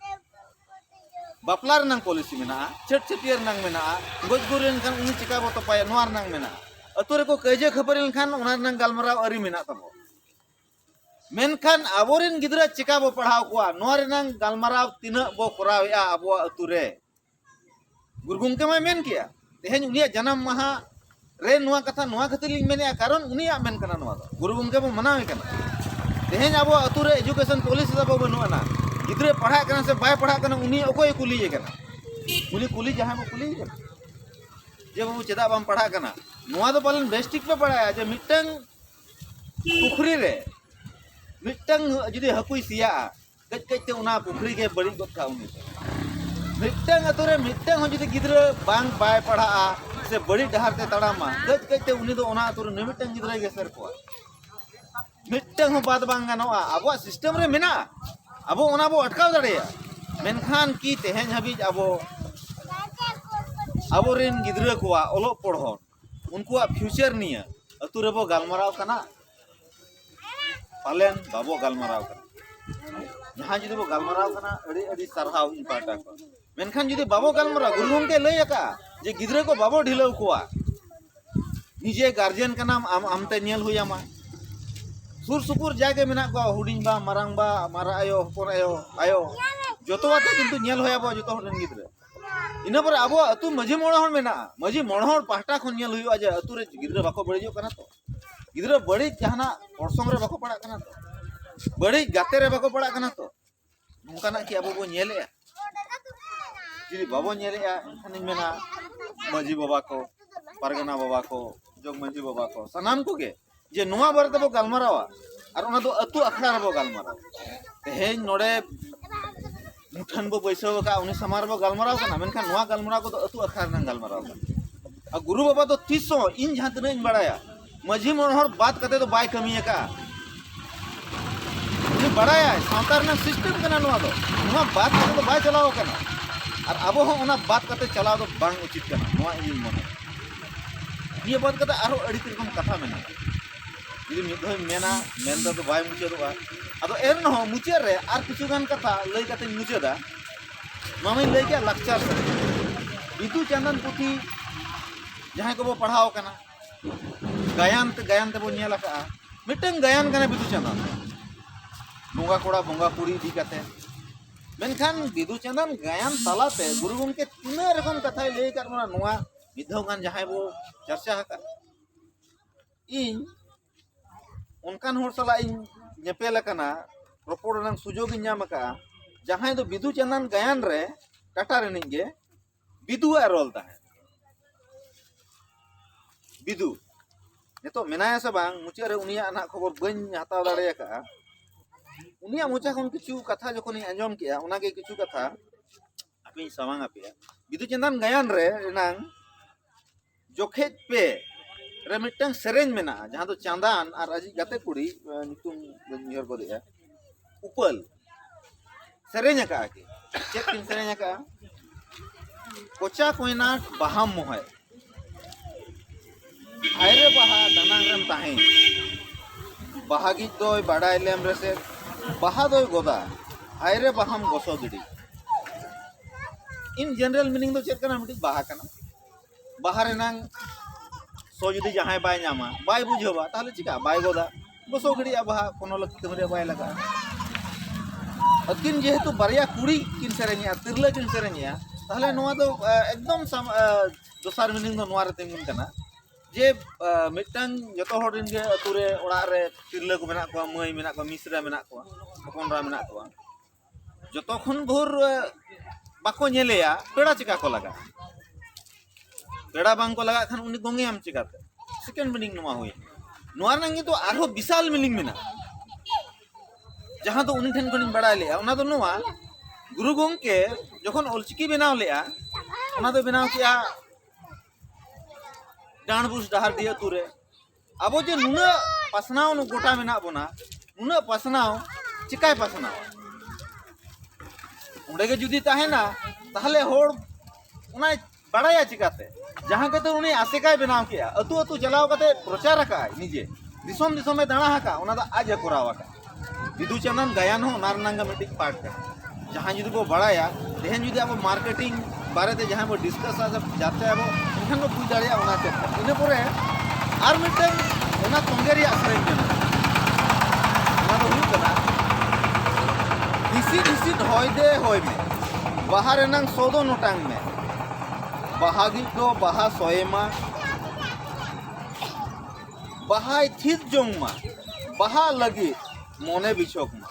ᱵᱟᱯᱞᱟ ᱨᱮᱱᱟᱝ ᱯᱚᱞᱤᱥᱤ ᱢᱮᱱᱟᱜᱼᱟ ᱪᱷᱟᱹᱴ ᱪᱷᱟᱹᱴᱭᱟᱹᱨ ᱨᱮᱱᱟᱝ ᱢᱮᱱᱟᱜᱼᱟ ᱜᱚᱡ ᱜᱩᱨ ᱞᱮᱱᱠᱷᱟᱱ ᱩᱱᱤ ᱪᱤᱠᱟ ᱵᱚ ᱛᱚᱯᱟᱭᱟ ᱱᱚᱣᱟ ᱨᱮᱱᱟᱝ ᱢᱮᱱᱟᱜᱼᱟ ᱟᱹᱛᱩ ᱨᱮᱠᱚ ᱠᱟᱹᱭᱡᱟᱹ ᱠᱷᱟᱹᱯᱟᱹᱨᱤ ᱞᱮᱱᱠᱷᱟᱱ ᱚᱱᱟ ᱨᱮᱱᱟᱝ ᱜᱟᱞᱢᱟᱨᱟᱣ ᱟᱹᱨᱤ ᱢᱮᱱᱟᱜ ᱛᱟᱵᱚ ᱢᱮᱱᱠᱷᱟᱱ ᱟᱵᱚᱨᱮᱱ ᱜᱤᱫᱽᱨᱟᱹ ᱪᱮᱠᱟ ᱵᱚ ᱯᱟᱲᱦᱟᱣ ᱠᱚᱣᱟ ᱱᱚᱣᱟ ᱨᱮᱱᱟᱝ ᱜᱟᱞᱢᱟᱨᱟᱣ ᱛᱤᱱᱟᱹᱜ ᱵᱚ ᱠᱚᱨᱟᱣᱮᱜᱼᱟ ᱟᱵᱚᱣᱟᱜ ᱟᱹᱛᱩ ᱨᱮ ᱜᱩᱨᱩ ᱜᱚᱢᱠᱮ ᱢᱟᱭ ᱢᱮᱱ ᱠᱮᱜᱼᱟ ᱛᱮᱦᱮᱧ ᱩᱱᱤᱭᱟᱜ ᱡᱟᱱᱟᱢ ᱢᱟᱦᱟ ᱨᱮ ᱱᱚᱣᱟ ᱠᱟᱛᱷᱟ ᱱᱚᱣᱟ ᱠᱷᱟᱹᱛᱤᱨ ᱞᱤᱧ ᱢᱮᱱᱮᱜᱼᱟ ᱠᱟᱨᱚᱱ ᱩᱱᱤᱭᱟᱜ ᱢᱮᱱ ᱠᱟᱱᱟ ᱱᱚᱣᱟ ᱫᱚ ᱜᱩᱨᱩ ᱜᱚᱢᱠᱮ ᱵᱚ ᱢᱟᱱᱟᱣᱮ ᱠᱟᱱᱟ ᱛᱮᱦᱮᱧ ᱟᱵᱚᱣᱟᱜ ᱟᱹᱛᱩ ᱨᱮ ᱮᱡᱩᱠᱮᱥᱚᱱ ᱯᱚᱞᱤᱥᱤ ᱛᱟᱵᱚ ᱵᱟᱹᱱᱩᱜ ᱟᱱᱟ ᱜᱤᱫᱽᱨᱟᱹ ᱯᱟᱲᱦᱟᱜ ᱠᱟᱱᱟ ᱥᱮ ᱵᱟᱭ ᱯᱟᱲᱦᱟᱜ ᱠᱟᱱᱟ ᱩᱱᱤ ᱚᱠᱚᱭ ᱠᱩᱞᱤᱭᱮ ᱠᱟᱱᱟ ᱩᱱᱤ ᱠᱩᱞᱤ ᱡᱟᱦᱟᱸᱭ ᱵᱚ ᱠᱩᱞᱤᱭᱮ ᱠᱟᱱᱟ ᱡᱮ ᱵᱟᱹᱵᱩ ᱪᱮᱫᱟᱜ ᱵᱟᱢ ᱯᱟᱲᱦᱟᱜ ᱠᱟᱱᱟ ᱱᱚᱣᱟ ᱫᱚ ᱯᱟᱞᱮᱱ ᱵᱮᱥ ᱴᱷᱤᱠ ᱯᱮ ᱵᱟᱲᱟᱭᱟ ᱡᱮ ᱢᱤᱫᱴᱟᱝ ᱯᱩᱠᱷᱨᱤ ᱨᱮ ᱢᱤᱫᱴᱟᱝ ᱡᱩᱫᱤ ᱦᱟᱹᱠᱩᱭ ᱥᱮᱭᱟᱜᱼᱟ ᱠᱟᱹᱡ ᱠᱟᱹᱡ ᱛᱮ ᱚᱱᱟ ᱯᱩᱠᱷᱨᱤ ᱜᱮ ᱵᱟᱹᱲᱤᱡ ᱜᱚᱫ ᱠᱟᱜᱼᱟ ᱩᱱᱤ ᱢᱤᱫᱴᱟᱝ ᱟᱛᱳ ᱨᱮ ᱢᱤᱫᱴᱟᱝ ᱦᱚᱸ ᱡᱩᱫᱤ ᱜᱤᱫᱽᱨᱟᱹ ᱵᱟᱝ ᱵᱟᱭ ᱯᱟᱲᱦᱟᱜᱼᱟ ᱥᱮ ᱵᱟᱹᱲᱤᱡ ᱰᱟᱦᱟᱨ ᱛᱮ ᱛᱟᱲᱟᱢᱟ ᱠᱟᱹᱡ ᱠᱟᱹᱡ ᱛᱮ ᱩᱱᱤ ᱫᱚ ᱚᱱᱟ ᱟᱛᱳ ᱨᱮ ᱢᱤᱫᱴᱟᱝ ᱜᱤᱫᱽᱨᱟᱹᱭ ᱜᱮᱥᱮᱨ ᱠᱚᱣᱟ ᱢᱤᱫᱴᱟᱝ ᱦᱚᱸ ᱵᱟᱫ ᱵᱟᱝ ᱜᱟᱱᱚᱜᱼᱟ ᱟᱵᱚᱣᱟᱜ ᱥᱤᱥᱴᱮᱢ ᱨᱮ ᱢᱮᱱᱟᱜᱼᱟ ᱟᱵᱚ ᱚᱱᱟ ᱵᱚ ᱟᱴᱠᱟᱣ ᱫᱟᱲᱮᱭᱟᱜᱼᱟ ᱢᱮᱱᱠᱷᱟᱱ ᱠᱤ ᱛᱮᱦᱮᱧ ᱦᱟᱹᱵᱤᱡ ᱟᱵᱚ ᱟᱵᱚᱨᱮᱱ ᱜᱤᱫᱽᱨᱟᱹ ᱠᱚᱣᱟᱜ ᱚᱞᱚᱜ ᱯᱚᱲᱦᱚᱱ ᱩᱱᱠᱩᱣᱟᱜ ᱯᱷᱤᱭᱩᱪᱟᱨ ᱱᱤᱭᱟᱹ ᱟᱹᱛᱩ ᱨᱮᱵᱚ ᱜᱟᱞᱢᱟᱨᱟᱣ ᱠᱟᱱᱟ ᱯᱟᱞᱮᱱ ᱵᱟᱵᱚ ᱜᱟᱞᱢᱟᱨᱟᱣ ᱠᱟᱱᱟ ᱡᱟᱦᱟᱸ ᱡᱩᱫᱤ ᱵᱚ ᱜᱟᱞᱢᱟᱨᱟᱣ ᱠᱟᱱᱟ ᱟᱹᱰᱤ ᱟᱹᱰᱤ ᱥᱟᱨᱦᱟᱣ ᱤᱧ ᱯᱟᱦᱴᱟ ᱠᱷᱚᱱ ᱢᱮᱱᱠᱷᱟᱱ ᱡᱩᱫᱤ ᱵᱟᱵᱚ ᱜᱟᱞᱢᱟᱨᱟᱣ ᱜᱩᱨᱩ ᱜᱚᱢᱠᱮ ᱞᱟᱹᱭ ᱟᱠᱟᱫᱼᱟ ᱡᱮ ᱜᱤᱫᱽᱨᱟᱹ ᱠᱚ ᱵᱟᱵᱚ ᱰᱷᱤᱞᱟᱹᱣ ᱠᱚᱣᱟ ᱱᱤᱡᱮ ᱜᱟᱨᱡᱮᱱ ᱠᱟᱱᱟᱢ ᱟᱢ ᱟᱢᱛᱮ ᱧᱮᱞ ᱦᱩᱭ ᱟᱢᱟ ᱥᱩᱨ ᱥᱩᱯᱩᱨ ᱡᱟᱭᱜᱟ ᱢᱮᱱᱟᱜ ᱠᱚᱣᱟ ᱦᱩᱰᱤᱧ ᱵᱟ ᱢᱟᱨᱟᱝ ᱵᱟ ᱢᱟᱨᱟᱝ ᱟᱭᱳ ᱦᱚᱯᱚᱱ ᱟᱭᱳ ᱟᱭᱳ ᱡᱚᱛᱚ ᱟᱛᱮ ᱠᱤᱱᱛᱩ ᱧᱮᱞ ᱦᱩᱭ ᱟᱵᱚᱣᱟ ᱡᱚᱛᱚ ᱦᱚᱲ ᱨᱮᱱ ᱜᱤᱫᱽᱨᱟᱹ ᱤᱱᱟᱹ ᱯᱚᱨᱮ ᱟᱵᱚᱣᱟᱜ ᱟᱹᱛᱩ ᱢᱟᱹᱡᱷᱤ ᱢᱚᱬᱮ ᱦᱚᱲ ᱢᱮᱱᱟᱜᱼᱟ ᱢᱟᱹᱡᱷᱤ ᱢᱚᱬᱮ ᱦᱚᱲ ᱯᱟᱦᱴᱟ ᱠᱷᱚᱱ ᱧᱮᱞ ᱦᱩᱭᱩᱜᱼᱟ ᱡᱮ ᱟᱹᱛᱩ ᱨᱮ ᱜᱤᱫᱽᱨᱟᱹ ᱵᱟᱠᱚ ᱵᱟᱹᱲᱤᱡᱚᱜ ᱠᱟᱱᱟ ᱛᱚ ᱜᱤᱫᱽᱨᱟᱹ ᱵᱟᱹᱲᱤᱡ ᱡᱟᱦᱟᱱᱟᱜ ᱚᱨᱥᱚᱝ ᱨᱮ ᱵᱟᱠᱚ ᱯᱟᱲᱟᱜ ᱠᱟᱱᱟ ᱛᱚ ᱵᱟᱹᱲᱤᱡ ᱜᱟᱛᱮ ᱨᱮ ᱵᱟᱠᱚ ᱯᱟᱲᱟᱜ ᱠᱟᱱᱟ ᱛᱚ ᱱᱚᱝᱠᱟᱱᱟᱜ ᱠᱤ ᱟᱵᱚ ᱵᱚᱱ ᱧᱮᱞᱮᱜᱼᱟ ᱡᱩᱫᱤ ᱵᱟᱵᱚᱱ ᱧᱮᱞᱮᱜᱼᱟ ᱮᱱᱠᱷᱟᱱᱤᱧ ᱢᱮᱱᱟ ᱢᱟᱹᱡᱷᱤ ᱵᱟᱵᱟ ᱠᱚ ᱯᱟᱨᱜᱟᱱᱟ ᱵᱟᱵᱟ ᱠᱚ ᱡᱚᱜᱽ ᱢᱟᱹᱡᱷᱤ ᱵᱟᱵᱟ ᱠᱚ ᱥᱟᱱᱟᱢ ᱠᱚᱜᱮ ᱡᱮ ᱱᱚᱣᱟ ᱵᱟᱨᱮ ᱛᱮᱵᱚ ᱜᱟᱞᱢᱟᱨᱟᱣᱟ ᱟᱨ ᱚᱱᱟ ᱫᱚ ᱟᱹᱛᱩ ᱟᱠᱷᱲᱟ ᱨᱮᱵᱚ ᱜᱟᱞᱢᱟᱨᱟᱣᱟ ᱛᱮᱦᱮᱧ ᱱᱚᱰᱮ ᱢᱩᱴᱷᱟᱹᱱ ᱵᱚ ᱵᱟᱹᱭᱥᱟᱹᱣ ᱟᱠᱟᱫᱼᱟ ᱩᱱᱤ ᱥᱟᱢᱟᱝ ᱨᱮᱵᱚ ᱜᱟᱞᱢᱟᱨᱟᱣ ᱠᱟᱱᱟ ᱢᱮᱱᱠᱷᱟᱱ ᱱᱚᱣᱟ ᱜᱟᱞᱢᱟᱨᱟᱣ ᱠᱚᱫᱚ ᱟᱹᱛᱩ ᱟᱠᱷᱲᱟ ᱨᱮᱱᱟᱜ ᱜᱟᱞᱢᱟᱨᱟᱣ ᱠᱟᱱᱟ ᱟᱨ ᱜᱩᱨᱩ ᱵᱟᱵᱟ ᱫᱚ ᱛᱤᱥ ᱦᱚᱸ ᱤᱧ ᱡᱟᱦᱟᱸ ᱛᱤᱱᱟᱹᱜ ᱤᱧ ᱵᱟᱲᱟᱭᱟ ᱢᱟᱹᱡᱷᱤ ᱢᱚᱬᱮ ᱦᱚᱲ ᱵᱟᱫ ᱠᱟᱛᱮ ᱫᱚ ᱵᱟᱭ ᱠᱟᱹᱢᱤ ᱟᱠᱟᱫᱼᱟ ᱩᱱᱤ ᱵᱟᱲᱟᱭᱟᱭ ᱥᱟᱶᱛᱟ ᱨᱮᱱᱟᱜ ᱥᱤᱥᱴᱮᱢ ᱠᱟᱱᱟ ᱱᱚᱣᱟ ᱫᱚ ᱱᱚᱣᱟ ᱵᱟᱫ ᱠᱟᱛᱮ ᱫᱚ ᱵᱟᱭ ᱪᱟᱞᱟᱣ ᱟᱠᱟᱱᱟ ᱟᱨ ᱟᱵᱚ ᱦᱚᱸ ᱚᱱᱟ ᱵᱟᱫ ᱠᱟᱛᱮ ᱪᱟᱞᱟᱣ ᱫᱚ ᱵᱟᱝ ᱩᱪᱤᱛ ᱠᱟᱱᱟ ᱱᱚᱣᱟ ᱤᱧᱤᱧ ᱢᱚᱱᱮᱭᱟ ᱱᱤᱭᱟᱹ ᱵᱟᱫ ᱠᱟᱛᱮ ᱟᱨᱦᱚᱸ ᱟᱹᱰᱤ ᱨᱚᱠᱚᱢ ᱠᱟᱛᱷᱟ ᱢᱮᱱᱟᱜᱼᱟ ᱡᱩᱫᱤ ᱢᱤᱫ ᱫᱷᱟᱣ ᱢᱮᱱᱟ ᱢᱮᱱ ᱫᱚ ᱵᱟᱭ ᱢᱩᱪᱟᱹᱫᱚᱜᱼᱟ ᱟᱫᱚ ᱮᱱ ᱨᱮᱦᱚᱸ ᱢᱩᱪᱟᱹᱫ ᱨᱮ ᱟᱨ ᱠᱤᱪᱷᱩ ᱜᱟᱱ ᱠᱟᱛᱷᱟ ᱞᱟᱹᱭ ᱠᱟᱛᱮᱧ ᱢᱩᱪᱟᱹᱫᱟ ᱱᱚᱣᱟ ᱢᱟᱹᱧ ᱞᱟᱹᱭ ᱠᱮᱫ ᱞᱟᱠᱪᱟᱨ ᱵᱤᱫᱩ ᱪᱟᱸᱫᱟᱱ ᱯᱩᱛᱷᱤ ᱡᱟᱦᱟᱸᱭ ᱠᱚᱵᱚ ᱯᱟᱲᱦᱟᱣ ᱠᱟᱱᱟ ᱜᱟᱭᱟᱱ ᱛᱮ ᱜᱟᱭᱟᱱ ᱛᱮᱵᱚ ᱧᱮᱞ ᱟᱠᱟᱜᱼᱟ ᱢᱤᱫᱴᱟᱝ ᱜᱟᱭᱟᱱ ᱠᱟᱱᱟ ᱵᱤᱫᱩ ᱪᱟᱸᱫᱟᱱ ᱵᱚᱸᱜᱟ ᱠᱚᱲᱟ ᱵᱚᱸᱜᱟ ᱠᱩᱲᱤ ᱤᱫᱤ ᱠᱟᱛᱮ ᱢᱮᱱᱠᱷᱟᱱ ᱵᱤᱫᱩ ᱪᱟᱸᱫᱟᱱ ᱜᱟᱭᱟᱱ ᱛᱟᱞᱟᱛᱮ ᱜᱩᱨᱩ ᱜᱚᱢᱠᱮ ᱛᱤᱱᱟᱹᱜ ᱨᱚᱠᱚᱢ ᱠᱟᱛᱷᱟᱭ ᱞᱟᱹᱭ ᱟᱠᱟᱫ ᱵᱚᱱᱟ ᱱᱚᱣᱟ ᱢᱤᱫ ᱫᱷᱟᱣ ᱜᱟᱱ ᱡᱟᱦᱟᱸᱭ ᱵᱚ ᱪᱟᱨᱪᱟ ᱟᱠᱟᱫ ᱤᱧ ᱚᱱᱠᱟᱱ ᱦᱚᱲ ᱥᱟᱞᱟᱜ ᱤᱧ ᱧᱮᱯᱮᱞ ᱟᱠᱟᱱᱟ ᱨᱚᱯᱚᱲ ᱨᱮᱱᱟᱜ ᱥᱩᱡᱳᱜᱽ ᱤᱧ ᱧᱟᱢ ᱟᱠᱟᱫᱼᱟ ᱡᱟᱦᱟᱸᱭ ᱫᱚ ᱵᱤᱫᱩ ᱪᱟᱸᱫᱟᱱ ᱜᱟᱭᱟᱱ ᱨᱮ ᱴᱟᱴᱟ ᱨᱤᱱᱤᱡ ᱜᱮ ᱵᱤᱫᱩᱣᱟᱜ ᱨᱚᱞ ᱛᱟᱦᱮᱸᱫ ᱵᱤᱫᱩ ᱱᱤᱛᱚᱜ ᱢᱮᱱᱟᱭᱟ ᱥᱮ ᱵᱟᱝ ᱢᱩᱪᱟᱹᱫ ᱨᱮ ᱩᱱᱤᱭᱟᱜ ᱱᱟᱜ ᱠᱷᱚᱵᱚᱨ ᱵᱟᱹᱧ ᱦᱟᱛᱟᱣ ᱫᱟᱲᱮ ᱟᱠᱟᱫᱼᱟ ᱩᱱᱤᱭᱟᱜ ᱢᱚᱪᱟ ᱠᱷᱚᱱ ᱠᱤᱪᱷᱩ ᱠᱟᱛᱷᱟ ᱡᱚᱠᱷᱚᱱᱤᱧ ᱟᱸᱡᱚᱢ ᱠᱮᱜᱼᱟ ᱚᱱᱟᱜᱮ ᱠᱤᱪᱷᱩ ᱠᱟᱛᱷᱟ ᱟᱯᱮᱧ ᱥᱟᱢᱟᱝ ᱟᱯᱮᱭᱟ ᱵᱤᱫᱩ ᱪᱟᱸᱫᱟᱱ ᱜᱟᱭᱟᱱ ᱨᱮ ᱮᱱᱟᱝ ᱡᱚᱠᱷᱮᱡ ᱯᱮ ᱨᱮ ᱢᱤᱫᱴᱟᱝ ᱥᱮᱨᱮᱧ ᱢᱮᱱᱟᱜᱼᱟ ᱡᱟᱦᱟᱸ ᱫᱚ ᱪᱟᱸᱫᱟᱱ ᱟᱨ ᱟᱡᱤᱡ ᱜᱟᱛᱮ ᱠᱩᱲᱤ ᱧᱩᱛᱩᱢ ᱵᱟᱹᱧ ᱩᱭᱦᱟᱹᱨ ᱜᱚᱫᱮᱜᱼᱟ ᱩᱯᱟᱹᱞ ᱥᱮᱨᱮᱧ ᱟᱠᱟᱜᱼᱟ ᱠᱤᱱ ᱪᱮᱫ ᱠᱤᱱ ᱥᱮᱨᱮᱧ ᱟᱠᱟᱜᱼᱟ ᱠᱚᱪᱟ ᱠᱚᱭᱱᱟᱴ ᱵᱟᱦᱟᱢ ᱢᱚᱦᱮ ᱟᱭᱨᱮ ᱵᱟᱦᱟ ᱫᱟᱱᱟᱝ ᱨᱮᱢ ᱛᱟᱦᱮᱸ ᱵᱟᱦᱟ ᱜᱤᱡ ᱫᱚᱭ ᱵᱟᱰᱟᱭ ᱞᱮᱢ ᱨᱮᱥᱮ ᱵᱟᱦᱟ ᱫᱚᱭ ᱜᱚᱫᱟ ᱟᱭᱨᱮ ᱵᱟᱦᱟᱢ ᱜᱚᱥᱚ ᱜᱤᱰᱤ ᱤᱱ ᱡᱮᱱᱟᱨᱮᱞ ᱢᱤᱱᱤᱝ ᱫᱚ ᱪᱮᱫ ᱠᱟᱱᱟ ᱢᱤᱫᱴᱤᱡ ᱵᱟᱦᱟ ᱠᱟᱱᱟ ᱵᱟᱦᱟ ᱨᱮᱱᱟᱝ ᱥᱚ ᱡᱩᱫᱤ ᱡᱟᱦᱟᱸᱭ ᱵᱟᱭ ᱧᱟᱢᱟ ᱵᱟᱭ ᱵᱩᱡᱷᱟᱹᱣᱟ ᱛᱟᱦᱚᱞᱮ ᱪᱤᱠᱟᱹᱜᱼᱟ ᱵᱟᱭ ᱜᱚᱫᱟ ᱵᱚᱥᱚ ᱜᱤᱰᱤᱭᱟ ᱵᱟᱦᱟ ᱠᱚᱱᱚ ᱞᱟᱹᱠᱛᱤ ᱠᱟᱹᱢᱤ ᱨᱮ ᱵᱟᱭ ᱞᱟᱜᱟᱜᱼᱟ ᱟᱹᱠᱤᱱ ᱡᱮᱦᱮᱛᱩ ᱵᱟᱨᱭᱟ ᱠᱩᱲᱤ ᱠᱤᱱ ᱥᱮᱨᱮᱧᱮᱜᱼᱟ ᱛᱤᱨᱞᱟᱹ ᱠᱤᱱ ᱥᱮᱨᱮᱧᱮᱜᱼᱟ ᱛᱟᱦᱚᱞᱮ ᱱᱚᱣᱟ ᱫᱚ ᱮᱠᱫᱚᱢ ᱫᱚᱥᱟᱨ ᱢᱤᱱᱤᱝ ᱫᱚ ᱱᱚᱣᱟ ᱨᱮ ᱛᱤᱸᱜᱩᱱ ᱠᱟᱱᱟ ᱡᱮ ᱢᱤᱫᱴᱟᱝ ᱡᱚᱛᱚ ᱦᱚᱲ ᱨᱮᱱ ᱜᱮ ᱟᱹᱛᱩ ᱨᱮ ᱚᱲᱟᱜ ᱨᱮ ᱛᱤᱨᱞᱟᱹ ᱠᱚ ᱢᱮᱱᱟᱜ ᱠᱚᱣᱟ ᱢᱟᱹᱭ ᱢᱮᱱᱟᱜ ᱠᱚᱣᱟ ᱢᱤᱥᱨᱟ ᱢᱮᱱᱟᱜ ᱠᱚᱣᱟ ᱦᱚᱯᱚᱱ ᱮᱨᱟ ᱢᱮᱱᱟᱜ ᱠᱚᱣᱟ ᱡᱚᱛᱚ ᱠᱷᱚᱱ ᱵᱷᱳᱨ ᱵᱟᱠᱚ ᱧᱮᱞᱮᱭᱟ ᱯᱮᱲᱟ ᱪᱮᱠᱟ ᱠᱚ ᱞᱟᱜᱟᱜᱼᱟ ᱯᱮᱲᱟ ᱵᱟᱝ ᱠᱚ ᱞᱟᱜᱟᱜ ᱠᱷᱟᱱ ᱩᱱᱤ ᱜᱚᱝᱮᱭᱟᱢ ᱪᱮᱠᱟᱛᱮ ᱥᱮᱠᱮᱱᱰ ᱢᱤᱱᱤᱝ ᱱᱚᱣᱟ ᱦᱩᱭᱮᱱᱟ ᱱᱚᱣᱟ ᱨᱮᱱᱟᱜ ᱠᱤᱱᱛᱩ ᱟᱨᱦᱚᱸ ᱵᱤᱥᱟᱞ ᱢᱤᱱᱤᱝ ᱢᱮᱱᱟᱜᱼᱟ ᱡᱟᱦᱟᱸ ᱫᱚ ᱩᱱᱤ ᱴᱷᱮᱱ ᱠᱷᱚᱱᱤᱧ ᱵᱟᱲᱟᱭ ᱞᱮᱜᱼᱟ ᱚᱱᱟ ᱫᱚ ᱱᱚᱣᱟ ᱜᱩᱨᱩ ᱜᱚᱝᱠᱮ ᱡᱚᱠᱷᱚᱱ ᱚᱞᱪᱤᱠᱤ ᱵᱮᱱᱟᱣ ᱞᱮᱜᱼᱟ ᱚᱱᱟ ᱫᱚ ᱵᱮᱱᱟᱣ ᱠᱮᱜᱼᱟ ᱰᱟᱸᱰᱵᱩᱥ ᱰᱟᱦᱟᱨᱰᱤ ᱟᱹᱛᱩ ᱨᱮ ᱟᱵᱚ ᱡᱮ ᱱᱩᱱᱟᱹᱜ ᱯᱟᱥᱱᱟᱣ ᱜᱚᱴᱟ ᱢᱮᱱᱟᱜ ᱵᱚᱱᱟ ᱱᱩᱱᱟᱹᱜ ᱯᱟᱥᱱᱟᱣ ᱪᱤᱠᱟᱭ ᱯᱟᱥᱱᱟᱣᱟ ᱚᱸᱰᱮ ᱜᱮ ᱡᱩᱫᱤ ᱛᱟᱦᱮᱱᱟ ᱛᱟᱦᱞᱮ ᱦᱚᱲ ᱚᱱᱟᱭ ᱵᱟᱲᱟᱭᱟ ᱪᱤᱠᱟᱛᱮ ᱡᱟᱦᱟᱸ ᱠᱟᱛᱮ ᱩᱱᱤ ᱟᱥᱮᱠᱟᱭ ᱵᱮᱱᱟᱣ ᱠᱮᱜᱼᱟ ᱟᱹᱛᱩ ᱟᱹᱛᱩ ᱪᱟᱞᱟᱣ ᱠᱟᱛᱮ ᱯᱨᱚᱪᱟᱨ ᱟᱠᱟᱜᱼᱟᱭ ᱱᱤᱡᱮ ᱫᱤᱥᱚᱢ ᱫᱤᱥᱚᱢᱮ ᱫᱟᱬᱟ ᱟᱠᱟᱜᱼᱟ ᱚᱱᱟ ᱫᱚ ᱟᱡ ᱮ ᱠᱚᱨᱟᱣ ᱟᱠᱟᱜᱼᱟ ᱵᱤᱫᱩ ᱪᱟᱸᱫᱟᱱ ᱜᱟᱭᱟᱱ ᱦᱚᱸ ᱚᱱᱟ ᱨᱮᱱᱟᱜ ᱜᱮ ᱢᱤᱫᱴᱤᱡ ᱯᱟᱨᱴ ᱠᱟᱱᱟ ᱡᱟᱦᱟᱸ ᱡᱩᱫᱤ ᱵᱚ ᱵᱟᱲᱟᱭᱟ ᱛᱮᱦᱮᱧ ᱡᱩᱫᱤ ᱟᱵᱚ ᱢᱟᱨᱠᱮᱴᱤᱝ ᱵᱟᱨᱮᱛᱮ ᱡᱟᱦᱟᱸ ᱵᱚ ᱰᱤᱥᱠᱟᱥᱟ ᱡᱟᱛᱮ ᱟᱵᱚ ᱮᱱᱠᱷᱟᱱ ᱵᱚ ᱵᱩᱡᱽ ᱫᱟᱲᱮᱭᱟᱜᱼᱟ ᱚᱱᱟ ᱪᱮᱫ ᱠᱟᱱᱟ ᱤᱱᱟᱹ ᱯᱚᱨᱮ ᱟᱨ ᱢᱤᱫᱴᱮᱱ ᱚᱱᱟ ᱛᱚᱸᱜᱮ ᱨᱮᱭᱟᱜ ᱥᱮᱨᱮᱧ ᱠᱟᱱᱟ ᱚᱱᱟ ᱫᱚ ᱦᱩᱭᱩᱜ ᱠᱟᱱᱟ ᱦᱤᱥᱤᱫ ᱦᱤᱥᱤᱫ ᱦᱚᱭ ᱫᱮ ᱦᱚᱭ ᱢᱮ ᱵᱟᱦᱟ ᱨᱮᱱᱟᱝ ᱥᱚ ᱫᱚ ᱱᱚᱴᱟᱝ ᱢᱮ ᱵᱟᱦᱟ ᱜᱤᱡ ᱫᱚ ᱵᱟᱦᱟ ᱥᱚᱭᱮᱢᱟ ᱵᱟᱦᱟᱭ ᱛᱷᱤᱛ ᱡᱚᱝ ᱢᱟ ᱵᱟᱦᱟ ᱞᱟᱹᱜᱤᱫ ᱢᱚᱱᱮ ᱵᱤᱪᱷᱚᱠ ᱢᱟ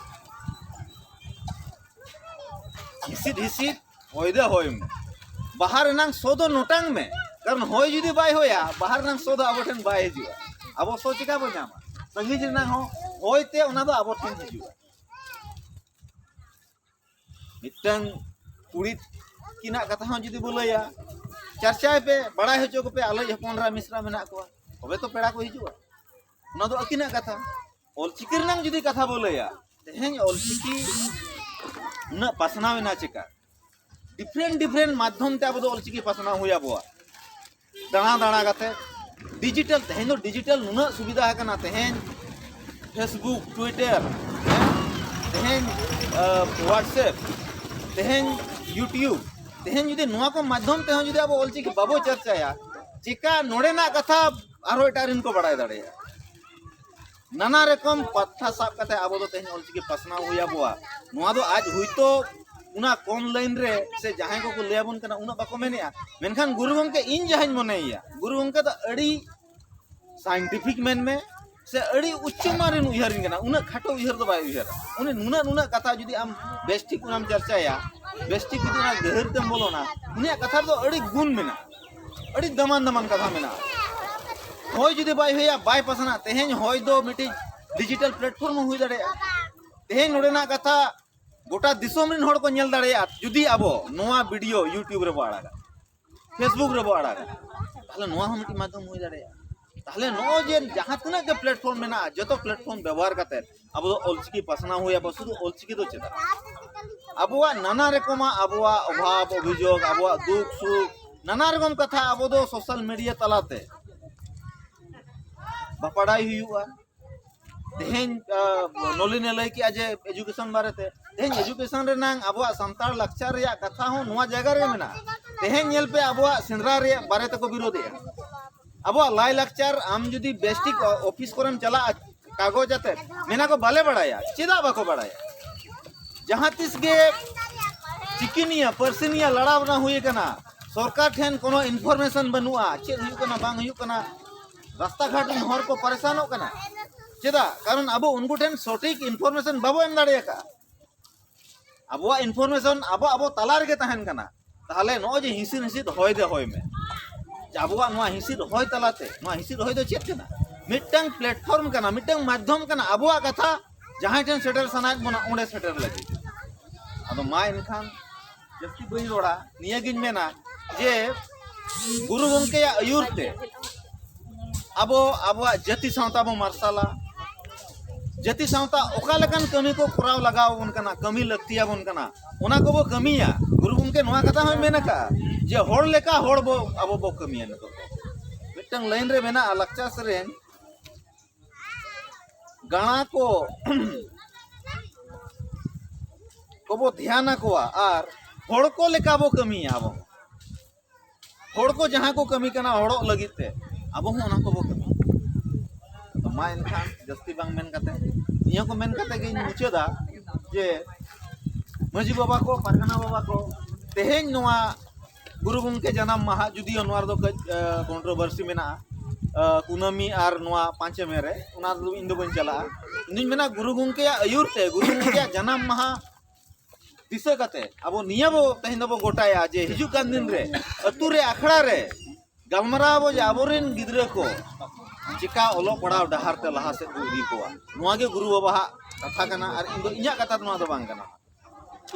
ᱦᱤᱥᱤᱫ ᱦᱤᱥᱤᱫ ᱦᱚᱭ ᱫᱚ ᱦᱚᱭ ᱢᱮ ᱵᱟᱦᱟ ᱨᱮᱱᱟᱝ ᱥᱚ ᱫᱚ ᱱᱚᱴᱟᱝ ᱢᱮ ᱠᱟᱨᱚᱱ ᱦᱚᱭ ᱡᱩᱫᱤ ᱵᱟᱭ ᱦᱚᱭᱟ ᱵᱟᱦᱟ ᱨᱮᱱᱟᱝ ᱥᱚ ᱫᱚ ᱟᱵᱚ ᱴᱷᱮᱱ ᱵᱟᱭ ᱦᱤᱡᱩᱜᱼᱟ ᱟᱵᱚ ᱥᱚ ᱪᱤᱠᱟ ᱵᱚ ᱧᱟᱢᱟ ᱥᱟᱺᱜᱤᱧ ᱨᱮᱱᱟᱝ ᱦᱚᱸ ᱦᱚᱭ ᱛᱮ ᱚᱱᱟ ᱫᱚ ᱟᱵᱚ ᱴᱷᱮᱱ ᱦᱤᱡᱩᱜᱼᱟ ᱢᱤᱫᱴᱟᱝ ᱠᱩᱲᱤ ᱛᱤᱠᱤᱱᱟᱜ ᱠᱟᱛᱷᱟ ᱦᱚᱸ ᱡᱩᱫᱤ ᱵᱚ ᱞᱟᱹᱭᱟ ᱪᱟᱨᱪᱟᱭ ᱯᱮ ᱵᱟᱲᱟᱭ ᱦᱚᱪᱚ ᱠᱚᱯᱮ ᱟᱞᱚᱡ ᱦᱚᱯᱚᱱᱨᱟ ᱢᱤᱥᱨᱟ ᱢᱮᱱᱟᱜ ᱠᱚᱣᱟ ᱛᱚᱵᱮ ᱛᱚ ᱯᱮᱲᱟ ᱠᱚ ᱦᱤᱡᱩᱜᱼᱟ ᱚᱱᱟ ᱫᱚ ᱟᱹᱠᱤᱱᱟᱜ ᱠᱟᱛᱷᱟ ᱚᱞᱪᱤᱠᱤ ᱨᱮᱱᱟᱝ ᱡᱩᱫᱤ ᱠᱟᱛᱷᱟ ᱵᱚ ᱞᱟᱹᱭᱟ ᱛᱮᱦᱮᱧ ᱚᱞᱪᱤᱠᱤ ᱩᱱᱟᱹᱜ ᱯᱟᱥᱱᱟᱣ ᱮᱱᱟ ᱪᱮᱠᱟ ᱰᱤᱯᱷᱨᱮᱱᱴ ᱰᱤᱯᱷᱨᱮᱱᱴ ᱢᱟᱫᱽᱫᱷᱚᱢ ᱛᱮ ᱟᱵᱚ ᱫᱚ ᱚᱞᱪᱤᱠᱤ ᱯᱟᱥᱱᱟᱣ ᱦᱩᱭ ᱟᱵᱚᱣᱟ ᱫᱟᱬᱟ ᱫᱟᱬᱟ ᱠᱟᱛᱮ ᱰᱤᱡᱤᱴᱟᱞ ᱛᱮᱦᱮᱧ ᱫᱚ ᱰᱤᱡᱤᱴᱟᱞ ᱱᱩᱱᱟᱹᱜ ᱥᱩᱵᱤᱫᱷᱟ ᱟᱠᱟᱱᱟ ᱛᱮᱦᱮᱧ ᱯᱷᱮᱥᱵᱩᱠ ᱴᱩᱭᱴᱟᱨ ᱛᱮᱦᱮᱧ ᱦᱳᱣᱟᱴᱥᱮᱯ ᱛᱮᱦᱮᱧ ᱤᱭᱩᱴᱤᱭᱩᱵᱽ ᱛᱮᱦᱮᱧ ᱡᱩᱫᱤ ᱱᱚᱣᱟ ᱠᱚ ᱢᱟᱫᱽᱫᱷᱚᱢ ᱛᱮᱦᱚᱸ ᱡᱩᱫᱤ ᱟᱵᱚ ᱚᱞᱪᱤᱠᱤ ᱵᱟᱵᱚ ᱪᱟᱨᱪᱟᱭᱟ ᱪᱮᱠᱟ ᱱᱚᱰᱮᱱᱟᱜ ᱠᱟᱛᱷᱟ ᱟᱨᱦᱚᱸ ᱮᱴᱟᱜ ᱨᱮᱱ ᱠᱚ ᱵᱟᱲᱟᱭ ᱫᱟᱲᱮᱭᱟᱜᱼᱟ ᱱᱟᱱᱟ ᱨᱚᱠᱚᱢ ᱯᱟᱛᱷᱟ ᱥᱟᱵ ᱠᱟᱛᱮ ᱟᱵᱚ ᱫᱚ ᱛᱮᱦᱮᱧ ᱚᱞᱪᱤᱠᱤ ᱯᱟᱥᱱᱟᱣ ᱦᱩᱭ ᱟᱵᱚᱣᱟ ᱱᱚᱣᱟ ᱫᱚ ᱟᱡ ᱦᱩᱭᱛᱚ ᱚᱱᱟ ᱠᱚᱢ ᱞᱟᱭᱤᱱ ᱨᱮ ᱥᱮ ᱡᱟᱦᱟᱸᱭ ᱠᱚᱠᱚ ᱞᱟᱹᱭ ᱟᱵᱚᱱ ᱠᱟᱱᱟ ᱩᱱᱟᱹᱜ ᱵᱟᱠᱚ ᱢᱮᱱᱮᱜᱼᱟ ᱢᱮᱱᱠᱷᱟᱱ ᱜᱩᱨᱩ ᱜᱚᱢᱠᱮ ᱤᱧ ᱡᱟᱦᱟᱸᱧ ᱢᱚᱱᱮᱭᱮᱭᱟ ᱜᱩᱨᱩ ᱜᱚᱢᱠᱮ ᱫᱚ ᱟᱹᱰᱤ ᱥᱟᱭᱮᱱᱴᱤᱯᱷᱤᱠ ᱢᱮᱱ ᱢᱮ ᱥᱮ ᱟᱹᱰᱤ ᱩᱪᱪᱚ ᱢᱟᱱ ᱨᱮᱱ ᱩᱭᱦᱟᱹᱨᱤᱧ ᱠᱟᱱᱟ ᱩᱱᱟᱹᱜ ᱠᱷᱟᱴᱚ ᱩᱭᱦᱟᱹᱨ ᱫᱚ ᱵᱟᱭ ᱩᱭᱦᱟᱹᱨᱟ ᱩᱱᱤ ᱱᱩᱱᱟᱹᱜ ᱱᱩᱱᱟᱹᱜ ᱠᱟᱛᱷᱟ ᱡᱩᱫᱤ ᱟᱢ ᱵᱮᱥᱴᱷᱤᱠ ᱚᱱᱟᱢ ᱪᱟᱨᱪᱟᱭᱟ ᱵᱮᱥᱴᱷᱤᱠ ᱡᱩᱫᱤ ᱚᱱᱟ ᱜᱟᱹᱦᱤᱨ ᱛᱮᱢ ᱵᱚᱞᱚᱱᱟ ᱩᱱᱤᱭᱟᱜ ᱠᱟᱛᱷᱟ ᱨᱮᱫᱚ ᱟᱹᱰᱤ ᱜᱩᱱ ᱢᱮᱱᱟᱜᱼᱟ ᱟᱹᱰᱤ ᱫᱟᱢᱟᱱ ᱫᱟᱢᱟᱱ ᱠᱟᱛᱷᱟ ᱢᱮᱱᱟᱜᱼᱟ ᱦᱚᱭ ᱡᱩᱫᱤ ᱵᱟᱭ ᱦᱩᱭᱟ ᱵᱟᱭ ᱯᱟᱥᱱᱟ ᱛᱮᱦᱮᱧ ᱦᱚᱭ ᱫᱚ ᱢᱤᱫᱴᱤᱡ ᱰᱤᱡᱤᱴᱟᱞ ᱯᱞᱟᱴᱯᱷᱚᱨᱢ ᱦᱚᱸ ᱦᱩᱭ ᱫᱟᱲᱮᱭᱟᱜᱼᱟ ᱛᱮᱦᱮᱧ ᱱᱚᱰᱮᱱᱟᱜ ᱠᱟᱛᱷᱟ ᱜᱚᱴᱟ ᱫᱤᱥᱚᱢ ᱨᱮᱱ ᱦᱚᱲ ᱠᱚ ᱧᱮᱞ ᱫᱟᱲᱮᱭᱟᱜᱼᱟ ᱡᱩᱫᱤ ᱟᱵᱚ ᱱᱚᱣᱟ ᱵᱷᱤᱰᱤᱭᱳ ᱤᱭᱩᱴᱩᱵᱽ ᱨᱮᱵᱚ ᱟᱲᱟᱜᱟ ᱯᱷᱮᱥᱵᱩᱠ ᱨᱮᱵᱚ ᱟᱲᱟᱜᱟ ᱛᱟᱦᱞᱮ ᱱᱚᱣᱟ ᱦᱚᱸ ᱢᱤᱫᱴᱤᱡ ᱢᱟᱫᱽᱫᱷᱚᱢ ᱦᱩᱭ ᱫᱟᱲᱮᱭᱟᱜᱼᱟ ᱛᱟᱦᱞᱮ ᱱᱚᱜᱼᱚᱭ ᱡᱮ ᱡᱟᱦᱟᱸ ᱛᱤᱱᱟᱹᱜ ᱜᱮ ᱯᱞᱟᱴᱯᱷᱚᱨᱢ ᱢᱮᱱᱟᱜᱼᱟ ᱡᱚᱛᱚ ᱯᱞᱟᱴᱯᱷᱚᱨᱢ ᱵᱮᱵᱚᱦᱟᱨ ᱠᱟᱛᱮ ᱟᱵᱚ ᱫᱚ ᱚᱞᱪᱤᱠᱤ ᱯᱟᱥᱱᱟᱣ ᱦᱩᱭ ᱟᱵᱚ ᱥᱩᱫᱷᱩ ᱚᱞᱪᱤᱠᱤ ᱫᱚ ᱪᱮᱫᱟᱜ ᱟᱵᱚᱣᱟᱜ ᱱᱟᱱᱟ ᱨᱚᱠᱚᱢᱟᱜ ᱟᱵᱚᱣᱟᱜ ᱚᱵᱷᱟᱵ ᱚᱵᱷᱤᱡᱳᱜᱽ ᱟᱵᱚᱣᱟᱜ ᱫᱩᱠ ᱥᱩᱠ ᱱᱟᱱᱟ ᱨᱚᱠᱚᱢ ᱠᱟᱛᱷᱟ ᱟᱵᱚ ᱫᱚ ᱥᱳᱥᱟᱞ ᱢᱤᱰᱤᱭᱟ ᱛᱟᱞᱟᱛᱮ ᱵᱟᱯᱟᱲᱟᱭ ᱦᱩᱭᱩᱜᱼᱟ ᱛᱮᱦᱮᱧ ᱱᱚᱞᱤᱱᱮ ᱞᱟᱹᱭ ᱠᱮᱜᱼᱟ ᱡᱮ ᱮᱡᱩᱠᱮᱥᱚᱱ ᱵᱟᱨᱮᱛᱮ ᱛᱮᱦᱮᱧ ᱮᱡᱩᱠᱮᱥᱚᱱ ᱨᱮᱱᱟᱝ ᱟᱵᱚᱣᱟᱜ ᱥᱟᱱᱛᱟᱲ ᱞᱟᱠᱪᱟᱨ ᱨᱮᱭᱟᱜ ᱠᱟᱛᱷᱟ ᱦᱚᱸ ᱱᱚᱣᱟ ᱡᱟᱭᱜᱟ ᱨᱮ ᱢᱮᱱᱟᱜᱼᱟ ᱛᱮᱦᱮᱧ ᱧᱮᱞ ᱯᱮ ᱟᱵᱚᱣᱟᱜ ᱥᱮᱸᱫᱽᱨᱟ ᱨᱮᱭᱟᱜ ᱵᱟᱨᱮ ᱛᱮᱠᱚ ᱵᱤᱨᱳᱫᱮᱜᱼᱟ ᱟᱵᱚᱣᱟᱜ ᱞᱟᱭ ᱞᱟᱠᱪᱟᱨ ᱟᱢ ᱡᱩᱫᱤ ᱵᱮᱥᱴᱤᱠ ᱚᱯᱷᱤᱥ ᱠᱚᱨᱮᱢ ᱪᱟᱞᱟᱜᱼᱟ ᱠᱟᱜᱚᱡᱽ ᱟᱛᱮ ᱢᱮᱱᱟ ᱠᱚ ᱵᱟᱞᱮ ᱵᱟᱲᱟᱭᱟ ᱪᱮᱫᱟᱜ ᱵᱟᱠᱚ ᱵᱟᱲᱟᱭᱟ ᱡᱟᱦᱟᱸ ᱛᱤᱥ ᱜᱮ ᱪᱤᱠᱤᱱᱤᱭᱟ ᱯᱟᱹᱨᱥᱤᱱᱤᱭᱟ ᱞᱟᱲᱟᱣ ᱵᱟᱝ ᱦᱩᱭ ᱟᱠᱟᱱᱟ ᱥᱚᱨᱠᱟᱨ ᱴᱷᱮᱱ ᱠᱳᱱᱳ ᱤᱱᱯᱷᱚᱨᱢᱮᱥᱚᱱ ᱵᱟᱹᱱᱩᱜᱼᱟ ᱪᱮᱫ ᱦᱩᱭᱩᱜ ᱠᱟᱱᱟ ᱵᱟᱝ ᱦᱩᱭᱩᱜ ᱠᱟᱱᱟ ᱨᱟᱥᱛᱟ ᱜᱷᱟᱴ ᱨᱮᱱ ᱦᱚᱲ ᱠᱚ ᱯᱟᱨᱮᱥᱟᱱᱚᱜ ᱠᱟᱱᱟ ᱪᱮᱫᱟᱜ ᱠᱟᱨᱚᱱ ᱟᱵᱚ ᱩᱱᱠᱩ ᱴᱷᱮᱱ ᱥᱚᱴᱷᱤᱠ ᱤᱱᱯᱷᱚᱨᱢᱮᱥᱚᱱ ᱵᱟᱵᱚ ᱮᱢ ᱫᱟᱲᱮ ᱟᱠᱟᱫᱼᱟ ᱟᱵᱚᱣᱟᱜ ᱤᱱᱯᱷᱚᱨᱢᱮᱥᱚᱱ ᱟᱵᱚ ᱟᱵᱚ ᱛᱟᱞᱟ ᱨᱮᱜᱮ ᱛᱟᱦᱮᱱ ᱠᱟᱱᱟ ᱛᱟᱦᱚᱞᱮ ᱱᱚᱜᱼᱚᱭ ᱡᱮ ᱦᱤᱥᱤᱫ ᱦᱤᱥᱤᱫ ᱦᱚᱭ ᱫᱮ ᱦᱚᱭ ᱢᱮ ᱟᱵᱚᱣᱟᱜ ᱱᱚᱣᱟ ᱦᱤᱥᱤᱫ ᱦᱚᱭ ᱛᱟᱞᱟᱛᱮ ᱱᱚᱣᱟ ᱦᱤᱥᱤᱫ ᱦᱚᱭ ᱫᱚ ᱪᱮᱫ ᱠᱟᱱᱟ ᱢᱤᱫᱴᱟᱝ ᱯᱞᱟᱴᱯᱷᱚᱨᱢ ᱠᱟᱱᱟ ᱢᱤᱫᱴᱟᱝ ᱢᱟᱫᱽᱫᱷᱚᱢ ᱠᱟᱱᱟ ᱟᱵᱚᱣᱟᱜ ᱠᱟᱛᱷᱟ ᱡᱟᱦᱟᱸᱭ ᱴᱷᱮᱱ ᱥᱮᱴᱮᱨ ᱥᱟᱱᱟᱭᱮᱫ ᱵᱚᱱᱟ ᱚᱸᱰᱮ ᱥᱮᱴᱮᱨ ᱞᱟᱹᱜᱤᱫ ᱟᱫᱚ ᱢᱟ ᱮᱱᱠᱷᱟᱱ ᱡᱟᱹᱥᱛᱤ ᱵᱟᱹᱧ ᱨᱚᱲᱟ ᱱᱤᱭᱟᱹᱜᱤᱧ ᱢᱮᱱᱟ ᱡᱮ ᱜᱩᱨᱩ ᱜᱚᱢᱠᱮᱭᱟᱜ ᱟᱹᱭᱩᱨ ᱛᱮ ᱟᱵᱚ ᱟᱵᱚᱣᱟᱜ ᱡᱟᱹᱛᱤ ᱥᱟᱶᱛᱟ ᱵᱚ ᱢᱟᱨᱥᱟᱞᱟ ᱡᱟᱹᱛᱤ ᱥᱟᱶᱛᱟ ᱚᱠᱟ ᱞᱮᱠᱟᱱ ᱠᱟᱹᱢᱤ ᱠᱚ ᱠᱚᱨᱟᱣ ᱞᱟᱜᱟᱣ ᱟᱵᱚᱱ ᱠᱟᱱᱟ ᱠᱟᱹᱢᱤ ᱞᱟᱹᱠᱛᱤ ᱟᱵᱚᱱ ᱠᱟᱱᱟ ᱚᱱᱟ ᱠᱚᱵᱚ ᱠᱟᱹᱢᱤᱭᱟ ᱜᱩᱨᱩ ᱜᱚᱢᱠᱮ ᱱᱚᱣᱟ ᱠᱟᱛᱷᱟ ᱦᱚᱸᱭ ᱢᱮᱱ ᱟᱠᱟᱫᱼᱟ ᱡᱮ ᱦᱚᱲ ᱞᱮᱠᱟ ᱦᱚᱲ ᱵᱚ ᱟᱵᱚ ᱵᱚ ᱠᱟᱹᱢᱤᱭᱟ ᱱᱤᱛᱚᱜ ᱢᱤᱫᱴᱟᱝ ᱞᱟᱭᱤᱱ ᱨᱮ ᱢᱮᱱᱟᱜᱼᱟ ᱞᱟᱠᱪᱟᱨ ᱥᱮᱨᱮᱧ ᱜᱟᱬᱟ ᱠᱚ ᱠᱚᱵᱚ ᱫᱷᱮᱭᱟᱱ ᱟᱠᱚᱣᱟ ᱟᱨ ᱦᱚᱲ ᱠᱚ ᱞᱮᱠᱟ ᱵᱚ ᱠᱟᱹᱢᱤᱭᱟ ᱟᱵᱚ ᱦᱚᱲ ᱠᱚ ᱡᱟᱦᱟᱸ ᱠᱚ ᱠᱟᱹᱢᱤ ᱠᱟᱱᱟ ᱦᱚᱲᱚᱜ ᱞᱟᱹᱜᱤᱫ ᱛᱮ ᱟᱵᱚ ᱦᱚᱸ ᱚᱱᱟ ᱠᱚᱵᱚ ᱠᱟᱹᱢᱤ ᱢᱟ ᱮᱱᱠᱷᱟᱱ ᱡᱟᱹᱥᱛᱤ ᱵᱟᱝ ᱢᱮᱱ ᱠᱟᱛᱮ ᱱᱤᱭᱟᱹ ᱠᱚ ᱢᱮᱱ ᱠᱟᱛᱮ ᱜᱤᱧ ᱢᱩᱪᱟᱹᱫᱟ ᱡᱮ ᱢᱟᱺᱡᱷᱤ ᱵᱟᱵᱟ ᱠᱚ ᱯᱟᱨᱜᱟᱱᱟ ᱵᱟᱵᱟ ᱠᱚ ᱛᱮᱦᱮᱧ ᱱᱚᱣᱟ ᱜᱩᱨᱩ ᱜᱚᱢᱠᱮ ᱡᱟᱱᱟᱢ ᱢᱟᱦᱟ ᱡᱩᱫᱤᱭᱳ ᱱᱚᱣᱟ ᱨᱮᱫᱚ ᱠᱟᱹᱡ ᱠᱚᱱᱴᱨᱳᱵᱷᱟᱨᱥᱤ ᱢᱮᱱᱟᱜᱼᱟ ᱠᱩᱱᱟᱹᱢᱤ ᱟᱨ ᱱᱚᱣᱟ ᱯᱟᱸᱪᱮ ᱢᱮ ᱨᱮ ᱚᱱᱟ ᱨᱮᱫᱚ ᱤᱧ ᱫᱚ ᱵᱟᱹᱧ ᱪᱟᱞᱟᱜᱼᱟ ᱤᱧᱫᱩᱧ ᱢᱮᱱᱟ ᱜᱩᱨᱩ ᱜᱚᱢᱠᱮᱭᱟᱜ ᱟᱹᱭᱩᱨ ᱛᱮ ᱜᱩᱨᱩ ᱜᱚᱢᱠᱮᱭᱟᱜ ᱡᱟᱱᱟᱢ ᱢᱟᱦᱟ ᱫᱤᱥᱟᱹ ᱠᱟᱛᱮ ᱟᱵᱚ ᱱᱤᱭᱟᱹ ᱵᱚ ᱛᱮᱦᱮᱧ ᱫᱚᱵᱚ ᱜᱚᱴᱟᱭᱟ ᱡᱮ ᱦᱤᱡᱩᱜ ᱠᱟᱱ ᱫᱤᱱ ᱨᱮ ᱟᱹᱛᱩ ᱨᱮ ᱟᱠᱷᱲᱟ ᱨᱮ ᱜᱟᱞᱢᱟᱨᱟᱣ ᱟᱵᱚ ᱡᱮ ᱟᱵᱚᱨᱮᱱ ᱜᱤᱫᱽᱨᱟᱹ ᱠᱚ ᱪᱮᱠᱟ ᱚᱞᱚᱜ ᱯᱟᱲᱦᱟᱣ ᱰᱟᱦᱟᱨ ᱛᱮ ᱞᱟᱦᱟ ᱥᱮᱫ ᱵᱚ ᱤᱫᱤ ᱠᱚᱣᱟ ᱱᱚᱣᱟ ᱜᱮ ᱜᱩᱨᱩ ᱵᱟᱵᱟᱣᱟᱜ ᱠᱟᱛᱷᱟ ᱠᱟᱱᱟ ᱟᱨ ᱤᱧ ᱫᱚ ᱤᱧᱟᱹᱜ ᱠᱟᱛᱷᱟ ᱫᱚ ᱱᱚᱣᱟ ᱫᱚ ᱵᱟᱝ ᱠᱟᱱᱟ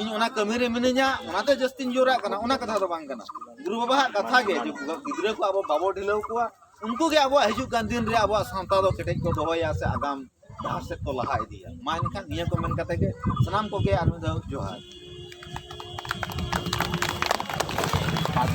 ᱤᱧ ᱚᱱᱟ ᱠᱟᱹᱢᱤ ᱨᱮ ᱢᱤᱱᱟᱹᱧᱟ ᱚᱱᱟᱛᱮ ᱡᱟᱹᱥᱛᱤᱧ ᱡᱳᱨᱟᱜ ᱠᱟᱱᱟ ᱚᱱᱟ ᱠᱟᱛᱷᱟ ᱫᱚ ᱵᱟᱝ ᱠᱟᱱᱟ ᱜᱩᱨᱩ ᱵᱟᱵᱟᱣᱟᱜ ᱠᱟᱛᱷᱟ ᱜᱮ ᱡᱮ ᱜᱤᱫᱽᱨᱟᱹ ᱠᱚ ᱟᱵᱚ ᱵᱟᱵᱚ ᱰᱷᱤᱞᱟᱹᱣ ᱠᱚᱣᱟ ᱩᱱᱠᱩ ᱜᱮ ᱟᱵᱚᱣᱟᱜ ᱦᱤᱡᱩᱜ ᱠᱟᱱ ᱫᱤᱱ ᱨᱮ ᱟᱵᱚᱣᱟᱜ ᱥᱟᱶᱛᱟ ᱫᱚ ᱠᱮᱴᱮᱡ ᱠᱚ ᱫᱚᱦᱚᱭᱟ ᱥᱮ ᱟᱜᱟᱢ ᱰᱟᱦᱟᱨ ᱥᱮᱫ ᱠᱚ ᱞᱟᱦᱟ ᱤᱫᱤᱭᱟ ᱢᱟ ᱮᱱᱠᱷᱟᱱ ᱱᱤᱭᱟᱹ ᱠᱚ ᱢᱮᱱ ᱠᱟᱛᱮ ᱜᱮ ᱥᱟᱱᱟᱢ ᱠᱚᱜᱮ ᱟᱨ ᱢᱤᱫ ᱫᱷᱟᱣ ᱡᱚᱦᱟᱨ